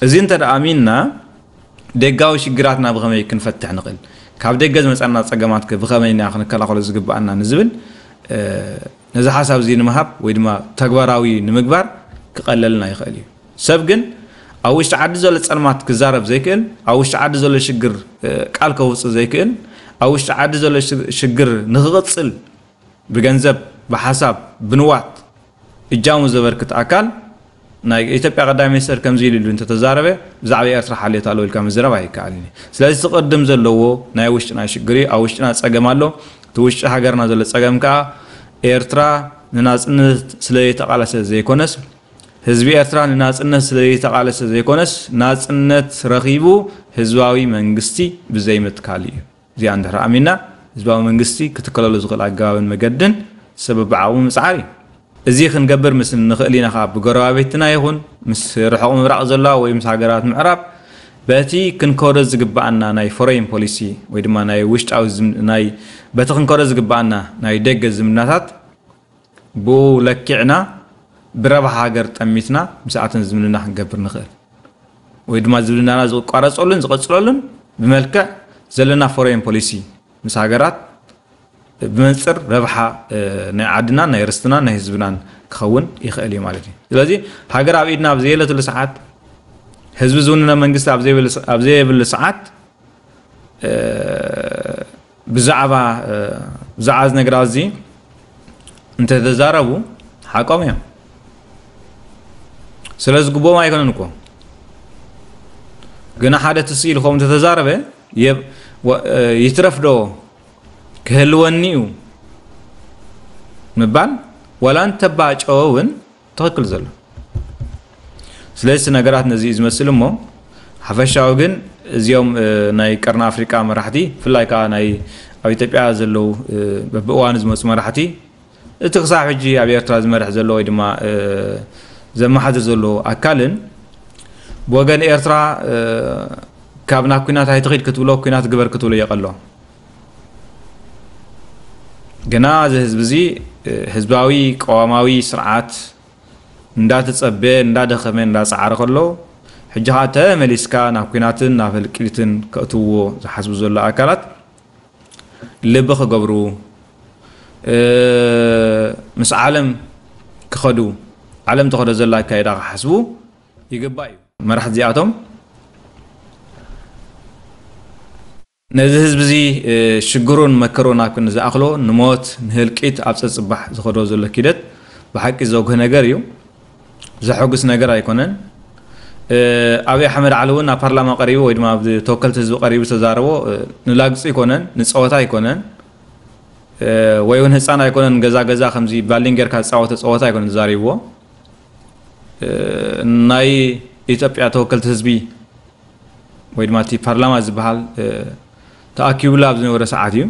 እዚ እንተ ኣሚንና ደጋዊ ሽግራትና ብኸመይ ክንፈትሕ ንኽእል ካብ ደገ ዝመፀና ፀገማት ብኸመይ ኢና ክንከላኸሎ ዝግብኣና ንዝብል ነዚ ሓሳብ እዚ ንምሃብ ወይ ድማ ተግባራዊ ንምግባር ክቐለልና ይኽእል እዩ ሰብ ግን ኣብ ውሽጢ ዓዲ ዘሎ ጸልማት ክዛረብ ዘይክእል፣ ኣብ ውሽጢ ዓዲ ዘሎ ሽግር ቃል ከውጽእ ዘይክእል፣ ኣብ ውሽጢ ዓዲ ዘሎ ሽግር ንክቕጽል ብገንዘብ፣ ብሓሳብ፣ ብንዋት እጃሙ ዘበርክት ኣካል ናይ ኢትዮጵያ ቀዳማይ ሚኒስተር ከምዚ ኢሉ ኢሉ እንተተዛረበ ብዛዕባ ኤርትራ ሓልዮት ኣለዎ ኢልካ ምዝራብ ኣይከኣልን እዩ። ስለዚ እቲ ክቕድም ዘለዎ ናይ ውሽጥና ሽግር እዩ። ኣብ ውሽጥና ጸገም ኣሎ። እቲ ውሽጢ ሃገርና ዘሎ ጸገም ከኣ ኤርትራ ንናጽነት ስለዘይተቓለሰት ዘይኮነስ፣ ህዝቢ ኤርትራ ንናጽነት ስለ ዘይተቓለሰ ዘይኮነስ ናጽነት ረኺቡ ህዝባዊ መንግስቲ ብዘይምትካሉ እዩ። እዚኣ እንድሕር ኣሚንና ህዝባዊ መንግስቲ ክትከለሉ ዝኽእል ኣገባብን መገድን ሰበብዓኡ ምጽዓር እዩ። እዚ ክንገብር ምስ እንኽእል ኢና ከኣ ብጎረባብትና ይኹን ምስ ርሑቕ ምብራቕ ዘለዋ ወይ ምስ ሃገራት ምዕራብ በቲ ክንከዶ ዝግበኣና ናይ ፎረይን ፖሊሲ ወይ ድማ ናይ ውሽጣዊ ናይ በቲ ክንከዶ ዝግበኣና ናይ ደገ ዝምድናታት ብኡ ለኪዕና ብረብሓ ሃገር ጠሚትና ምስኣተን ዝምድና ክንገብር ንኽእል ወይ ድማ ዝምድናና ዝቋረፀሉን ዝቐፅለሉን ብመልክዕ ዘለና ፎሬን ፖሊሲ ምስ ሃገራት ብመንፅር ረብሓ ናይ ዓድናን ናይ ርስትናን ናይ ህዝብናን ክኸውን ይኽእል እዩ ማለት እዩ። ስለዚ ሃገር ኣብ ኢድና ኣብ ዘየለትሉ ሰዓት ህዝቢ ዝውንነ መንግስቲ ኣብ ዘየብሉ ሰዓት ብዛዕባ ብዛዕባ እዚ ነገራት እዚ እንተተዛረቡ ሓቆም እዮም ስለ ዝግብኦም ኣይኮነን እኮ ግና ሓደ ትስኢሉ ከምኡ እንተተዛረበ ይትረፍ ዶ ክህልወኒ እዩ ምባል ዋላ እንተባጨወ እውን ትክክል ዘሎ ስለዚ እቲ ነገራት ነዚ እዩ ዝመስል እሞ ሓፈሻዊ ግን እዚኦም ናይ ቀርኒ ኣፍሪቃ መራሕቲ ብፍላይ ከዓ ናይ ኣብ ኢትዮጵያ ዘለው በብእዋኑ ዝመፁ መራሕቲ እቲ ክሳብ ሕጂ ኣብ ኤርትራ ዝመርሕ ዘሎ ወይ ድማ ዘመሓድር ዘሎ ኣካልን ብወገን ኤርትራ ካብ ናብ ኩናት ኣይትኺድ ክትብሎ ኩናት ግበር ክትብሎ የቐሎ ግና እዚ ህዝቢ እዚ ህዝባዊ ቀዋማዊ ስርዓት እንዳተፀበ እንዳደኸመ እንዳፀዓረ ከሎ ሕጂ ከዓ ተመሊስካ ናብ ኩናትን ናብ ህልቂትን ከእትውዎ ዝሓስቡ ዘሎ ኣካላት ልቢ ክገብሩ ምስ ዓለም ክኸዱ ዓለም ተኸዶ ዘላ ኣካይዳ ክሓስቡ ይግባእ እዩ መራሕቲ እዚኣቶም ነዚ ህዝቢ'ዚ ሽግሩን መከሩን ኣብ ክንዲ ዝኣኽሎ፣ ንሞት፣ ንህልቂት ኣብ ጸጽባሕ ዝኸዶ ዘሎ ኪደት ብሓቂ ዘጉህ ነገር ኢዩ። ዘሐጉስ ነገር ኣይኮነን። ኣብይ ኣሕመድ ዓሊ እውን ኣብ ፓርላማ ቀሪቡ ወይ ድማ ኣብ ተወከልቲ ህዝቢ ቀሪቡ ዝተዛረቦ ንላግጺ ኣይኮነን፣ ንጸወታ ኣይኮነን፣ ወይ እውን ህጻን ኣይኮነን ገዛ ገዛ ከምዚ ባሊን ጌርካ ዝጻወቶ ጸወታ ኣይኮነን ተዛሪብዎ። ናይ ኢትዮጵያ ተወከልቲ ህዝቢ ወይ ድማ እቲ ፓርላማ ዝበሃል ተኣኪቡላ ኣብ ዝነበረ ሰዓት እዩ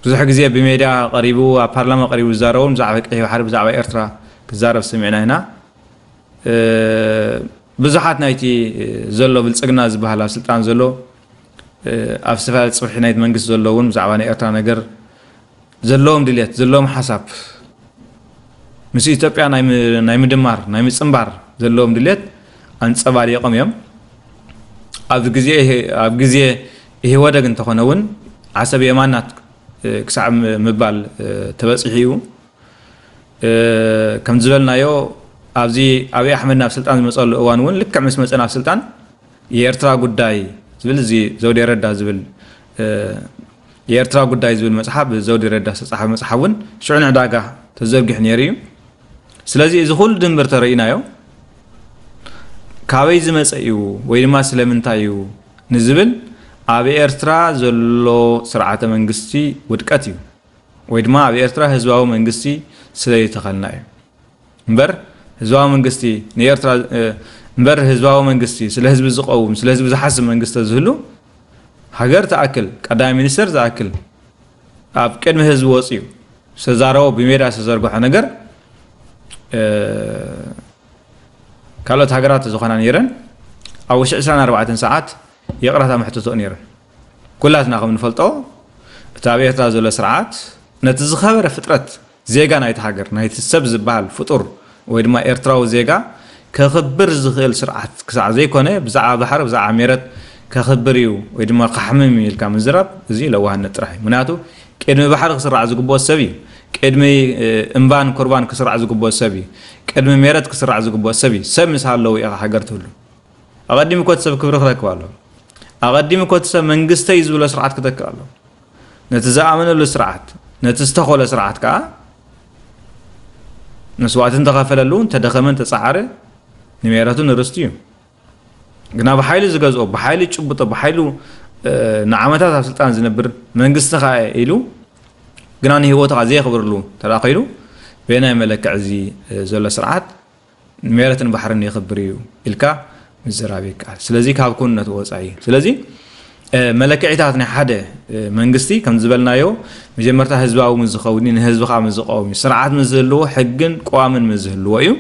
ብዙሕ ግዜ ብሜድያ ቀሪቡ ኣብ ፓርላማ ቀሪቡ ዝዛረቡ ብዛዕባ ቀይሕ ባሕሪ ብዛዕባ ኤርትራ ክዛረብ ሰሚዕና ኢና ብዙሓት ናይቲ ዘሎ ብልፅግና ዝበሃል ኣብ ስልጣን ዘሎ ኣብ ዝተፈላለዩ ፅፍሒ ናይቲ መንግስቲ ዘሎ እውን ብዛዕባ ናይ ኤርትራ ነገር ዘለዎም ድልየት ዘለዎም ሓሳብ ምስ ኢትዮጵያ ናይ ምድማር ናይ ምፅምባር ዘለዎም ድልየት ኣንፀባሪቖም እዮም። ኣብ ግዜ ኢህወደግ እንተኾነ እውን ዓሰብ የማናት ክሳዕ ምባል ተበፂሑ እዩ። ከም ዝበልናዮ ኣብዚ ኣብይ ኣሕመድ ናብ ስልጣን ዝመፀሉ እዋን እውን ልክዕ ምስ መፀ ናብ ስልጣን የኤርትራ ጉዳይ ዝብል እዚ ዘውዴ ረዳ ዝብል የኤርትራ ጉዳይ ዝብል መጽሓፍ ብዘውዲ ረዳ ዝተጻሕፈ መጽሓፍ እውን ሽዑ ንዕዳጋ ተዘርጊሑ ነይሩ እዩ ስለዚ እዚ ኩሉ ድምር ተረኢናዮ ካበይ ዝመጸ እዩ ወይ ድማ ስለምንታይ እዩ ንዝብል ኣብ ኤርትራ ዘሎ ስርዓተ መንግስቲ ውድቀት እዩ ወይ ድማ ኣብ ኤርትራ ህዝባዊ መንግስቲ ስለይተኸልና እዩ እምበር ህዝባዊ መንግስቲ ንኤርትራ እምበር ህዝባዊ መንግስቲ ስለ ህዝቢ ዝቐውም ስለ ህዝቢ ዝሓስብ መንግስቲ ተዝህሉ ሃገር ትኣክል ቀዳማይ ሚኒስተር ዝኣክል ኣብ ቅድሚ ህዝቢ ወፅዩ ዝተዛረቦ ብሜዳ ዝተዘርግሖ ነገር ካልኦት ሃገራት ዝኾና ነይረን ኣብ ውሽጢ 24 ሰዓት ይቕረታ መሕትቶኡ ነይረን ኩላትና ከም ንፈልጦ እቲ ኣብ ኤርትራ ዘሎ ስርዓት ነቲ ዝኸበረ ፍጥረት ዜጋ ናይታ ሃገር፣ ናይቲ ሰብ ዝበሃል ፍጡር ወይ ድማ ኤርትራዊ ዜጋ ከኽብር ዝኽእል ስርዓት ክሳዕ ዘይኮነ ብዛዕባ ባሕሪ ብዛዕባ ሜረት ከኽብር እዩ ወይ ድማ ከሕምም እዩ ኢልካ ምዝራብ እዚ ለዋህነት ጥራሕ እዩ። ምኽንያቱ ቅድሚ ባሕሪ ክስራዕ ዝግብኦ ሰብ እዩ። ቅድሚ እምባን ኩርባን ክስራዕ ዝግብኦ ሰብ እዩ። ቅድሚ ሜረት ክስራዕ ዝግብኦ ሰብ እዩ። ሰብ ምስ ሃለወ እዩ ሃገር ትህሉ። ኣቐዲሙ እኮ እቲ ሰብ ክብሪ ክረክብ ኣለዎ። ኣቐዲሙ እኮ እቲ ሰብ መንግስተይ ዝብሎ ስርዓት ክተክእ ኣለዎ። ነቲ ዝኣመነሉ ስርዓት ነቲ ዝተኾለ ስርዓት ከዓ መስዋእቲ እንተኸፈለሉ እንተደኸመ እንተፀዓረ ንሜረቱ ንርስቱ እዩ ግና ብሓይሊ ዝገዝኦ ብሓይሊ ጭብጦ ብሓይሉ ንዓመታት ኣብ ስልጣን ዝነብር መንግስቲ ከዓ ኢሉ ግና ንሂወቱ ከዓ ዘየኽብርሉ ተራኺሉ በናይ መለክዕ እዚ ዘሎ ስርዓት ንሜረትን ባሕርን የኽብር እዩ ኢልካ ምዝራብ ይከኣል ስለዚ ካብ ኩንነቱ ወፃኢ እዩ ስለዚ መለክዒታት ናይ ሓደ መንግስቲ ከም ዝበልናዮ መጀመርታ ህዝባዊ ምስ ዝኸውን እዩ ንህዝቢ ከዓ ምስ ዝቐወም እዩ ስርዓት ምስ ዝህልዎ ሕግን ቀዋምን ምስ ዝህልዎ እዩ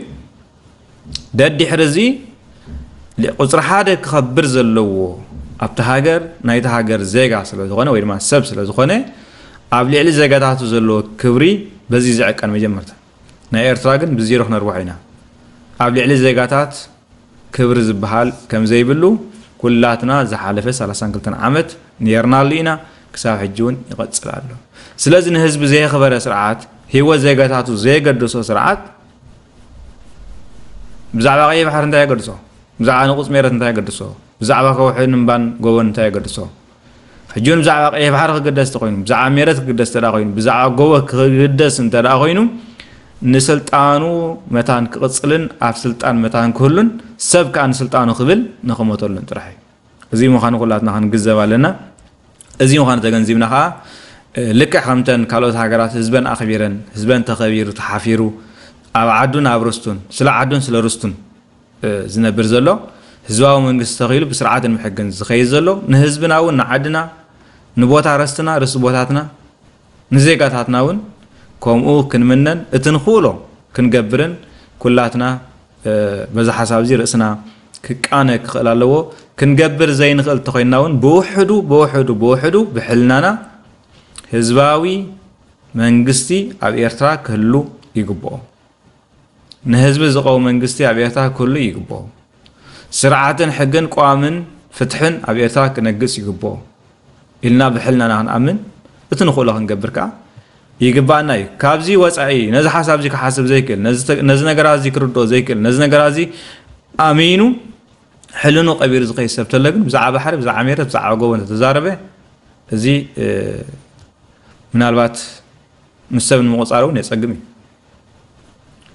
ደድሕሪ እዚ ቁፅሪ ሓደ ክኸብር ዘለዎ ኣብቲ ሃገር ናይቲ ሃገር ዜጋ ስለ ዝኾነ ወይ ድማ ሰብ ስለ ዝኾነ ኣብ ልዕሊ ዜጋታቱ ዘለዎ ክብሪ በዚ ዝዕቀን መጀመርታ ናይ ኤርትራ ግን ብዜሮ ክነርብሖ ኢና ኣብ ልዕሊ ዜጋታት ክብሪ ዝብሃል ከምዘይብሉ ኩላትና ዝሓለፈ ሰላሳን ክልተን ዓመት ኔርናሉ ኢና ክሳብ ሕጂ ውን ይቐጽል ኣሎ ስለዚ ንህዝቢ ዘየኽበረ ስርዓት ሂወት ዜጋታቱ ዘየገደሶ ስርዓት ብዛዕባ ቀይሕ ባሕሪ እንታይ የገድሶ ብዛዕባ ንቑጽ ሜረት እንታይ የገድሶ ብዛዕባ ከውሕን እምባን ጎቦን እንታይ የገድሶ ሕጂ እውን ብዛዕባ ቀይሕ ባሕሪ ክግደስ እንተኮይኑ ብዛዕባ ሜረት ክግደስ እንተ ኮይኑ ብዛዕባ ጎቦ ክግደስ እንተ ኮይኑ ንስልጣኑ መታን ክቕፅልን ኣብ ስልጣን መታን ክህሉን ሰብ ከዓ ንስልጣኑ ክብል ንክሞተሉን ጥራሕ እዩ እዚ ምዃኑ ኩላትና ክንግዘብ ኣለና እዚ ምዃኑ ተገንዚብና ከዓ ልክዕ ከምተን ካልኦት ሃገራት ህዝበን ኣኽቢረን ህዝበን ተኸቢሩ ተሓፊሩ ኣብ ዓዱን ኣብ ርስቱን ስለ ዓዱን ስለ ርስቱን ዝነብር ዘሎ ህዝባዊ መንግስቲ ተኺሉ ብስርዓትን ብሕግን ዝኸይድ ዘሎ ንህዝብና እውን ንዓድና ንቦታ ረስትና ርስቲ ቦታትና ንዜጋታትና እውን ከምኡ ክንምነን እቲ ንኽእሎ ክንገብርን ኩላትና በዚ ሓሳብ እዚ ርእስና ክቃነ ክኽእል ኣለዎ ክንገብር ዘይንኽእል ተኾይንና እውን ብውሕዱ ብውሕዱ ብውሕዱ ብሕልናና ህዝባዊ መንግስቲ ኣብ ኤርትራ ክህሉ ይግብኦ። ንህዝቢ ዝቀው መንግስቲ ኣብ ኤርትራ ክህሉ ይግብኦ። ስርዓትን ሕግን ቀዋምን ፍትሕን ኣብ ኤርትራ ክነግስ ይግብኦ ኢልና ብሕልናና ክንኣምን እቲ ንኽእሎ ክንገብር ከኣ ይግባኣና እዩ። ካብዚ ወጻኢ ነዚ ሓሳብ እዚ ክሓስብ ዘይክእል ነዚ ነገራት እዚ ክርድኦ ዘይክእል ነዚ ነገራት እዚ ኣሚኑ ሕልኑ ቀቢሩ ዝኸይድ ሰብ ተሎ ግን ብዛዕባ ባሕሪ ብዛዕባ ሜረት ብዛዕባ ጎቦ እንተተዛረበ እዚ ምናልባት ምስ ሰብ ንምቁፃር እውን የፀግም እዩ።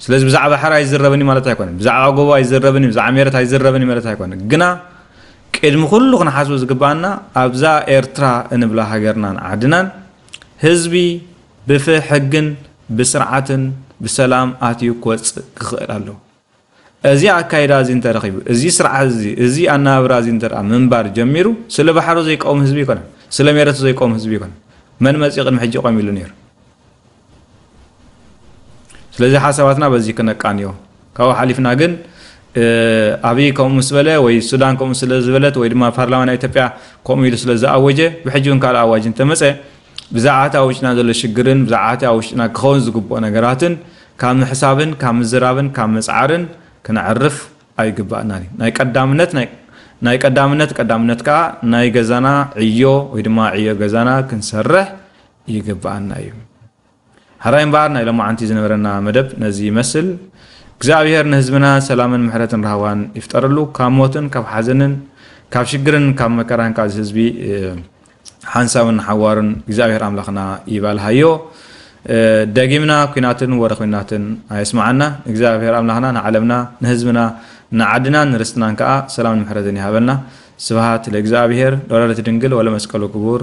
ስለዚ ብዛዕባ ሕራ ኣይዝረብን እዩ ማለት ኣይኮነን ብዛዕባ ጎቦ ኣይዝረብን እዩ ብዛዕባ ሜረት ኣይዝረብን እዩ ማለት ኣይኮነን ግና ቅድሚ ኩሉ ክንሓስቡ ዝግባኣና ኣብዛ ኤርትራ እንብላ ሃገርናን ዓድናን ህዝቢ ብፍሕግን ብስርዓትን ብሰላም ኣትዩ ክወፅእ ክኽእል ኣለዎ እዚ ኣካይዳ እዚ እንተ ረኺቡ፣ እዚ ስርዓት እዚ፣ እዚ ኣነባብራ እዚ እንተ ምንባር ጀሚሩ፣ ስለ ባሕሩ ዘይቀውም ህዝቢ ኣይኮነን፣ ስለ ሜረቱ ዘይቀውም ህዝቢ ኣይኮነን። መን መጺኡ ቅድሚ ሕጂ ቆም ኢሉ ነይሩ? ስለዚ ሓሳባትና በዚ ክነቃንዮ። ካብኡ ሓሊፍና ግን ኣብይ ከምኡ ምስ በለ ወይ ሱዳን ከምኡ ስለ ዝበለት ወይ ድማ ፓርላማ ናይ ኢትዮጵያ ከምኡ ኢሉ ስለ ዝኣወጀ ብሕጂ እውን ካልእ ኣዋጅ እንተመፀ ብዛዕባ እቲ ኣብ ውሽጥና ዘሎ ሽግርን ብዛዕባ እቲ ኣብ ውሽጥና ክኸውን ዝግብኦ ነገራትን ካብ ምሕሳብን ካብ ምዝራብን ካብ ምጽዓርን ክነዕርፍ ኣይግብኣናን እዩ። ናይ ቀዳምነት ናይ ናይ ቀዳምነት ቀዳምነት ከኣ ናይ ገዛና ዕዮ ወይ ድማ ዕዮ ገዛና ክንሰርሕ ይግብኣና እዩ። ሐራይ እምበኣር ናይ ሎማዓንቲ ዝነበረና መደብ ነዚ ይመስል እግዚኣብሔር ንህዝብና ሰላምን ምሕረትን ራህዋን ይፍጠረሉ ካብ ሞትን ካብ ሓዘንን ካብ ሽግርን ካብ መከራን ካብ ህዝቢ ሓንሳብን ንሓዋሩን እግዚኣብሔር ኣምላኽና ይባልሃዮ ደጊምና ኩናትን ወረ ኩናትን ኣየስማዓና እግዚኣብሔር ኣምላኽና ንዓለምና ንህዝብና ንዓድናን ንርስትናን ከኣ ሰላምን ምሕረትን ይሃበልና ስብሃት ለእግዚኣብሔር ለወላዲቱ ድንግል ወለመስቀሉ ክቡር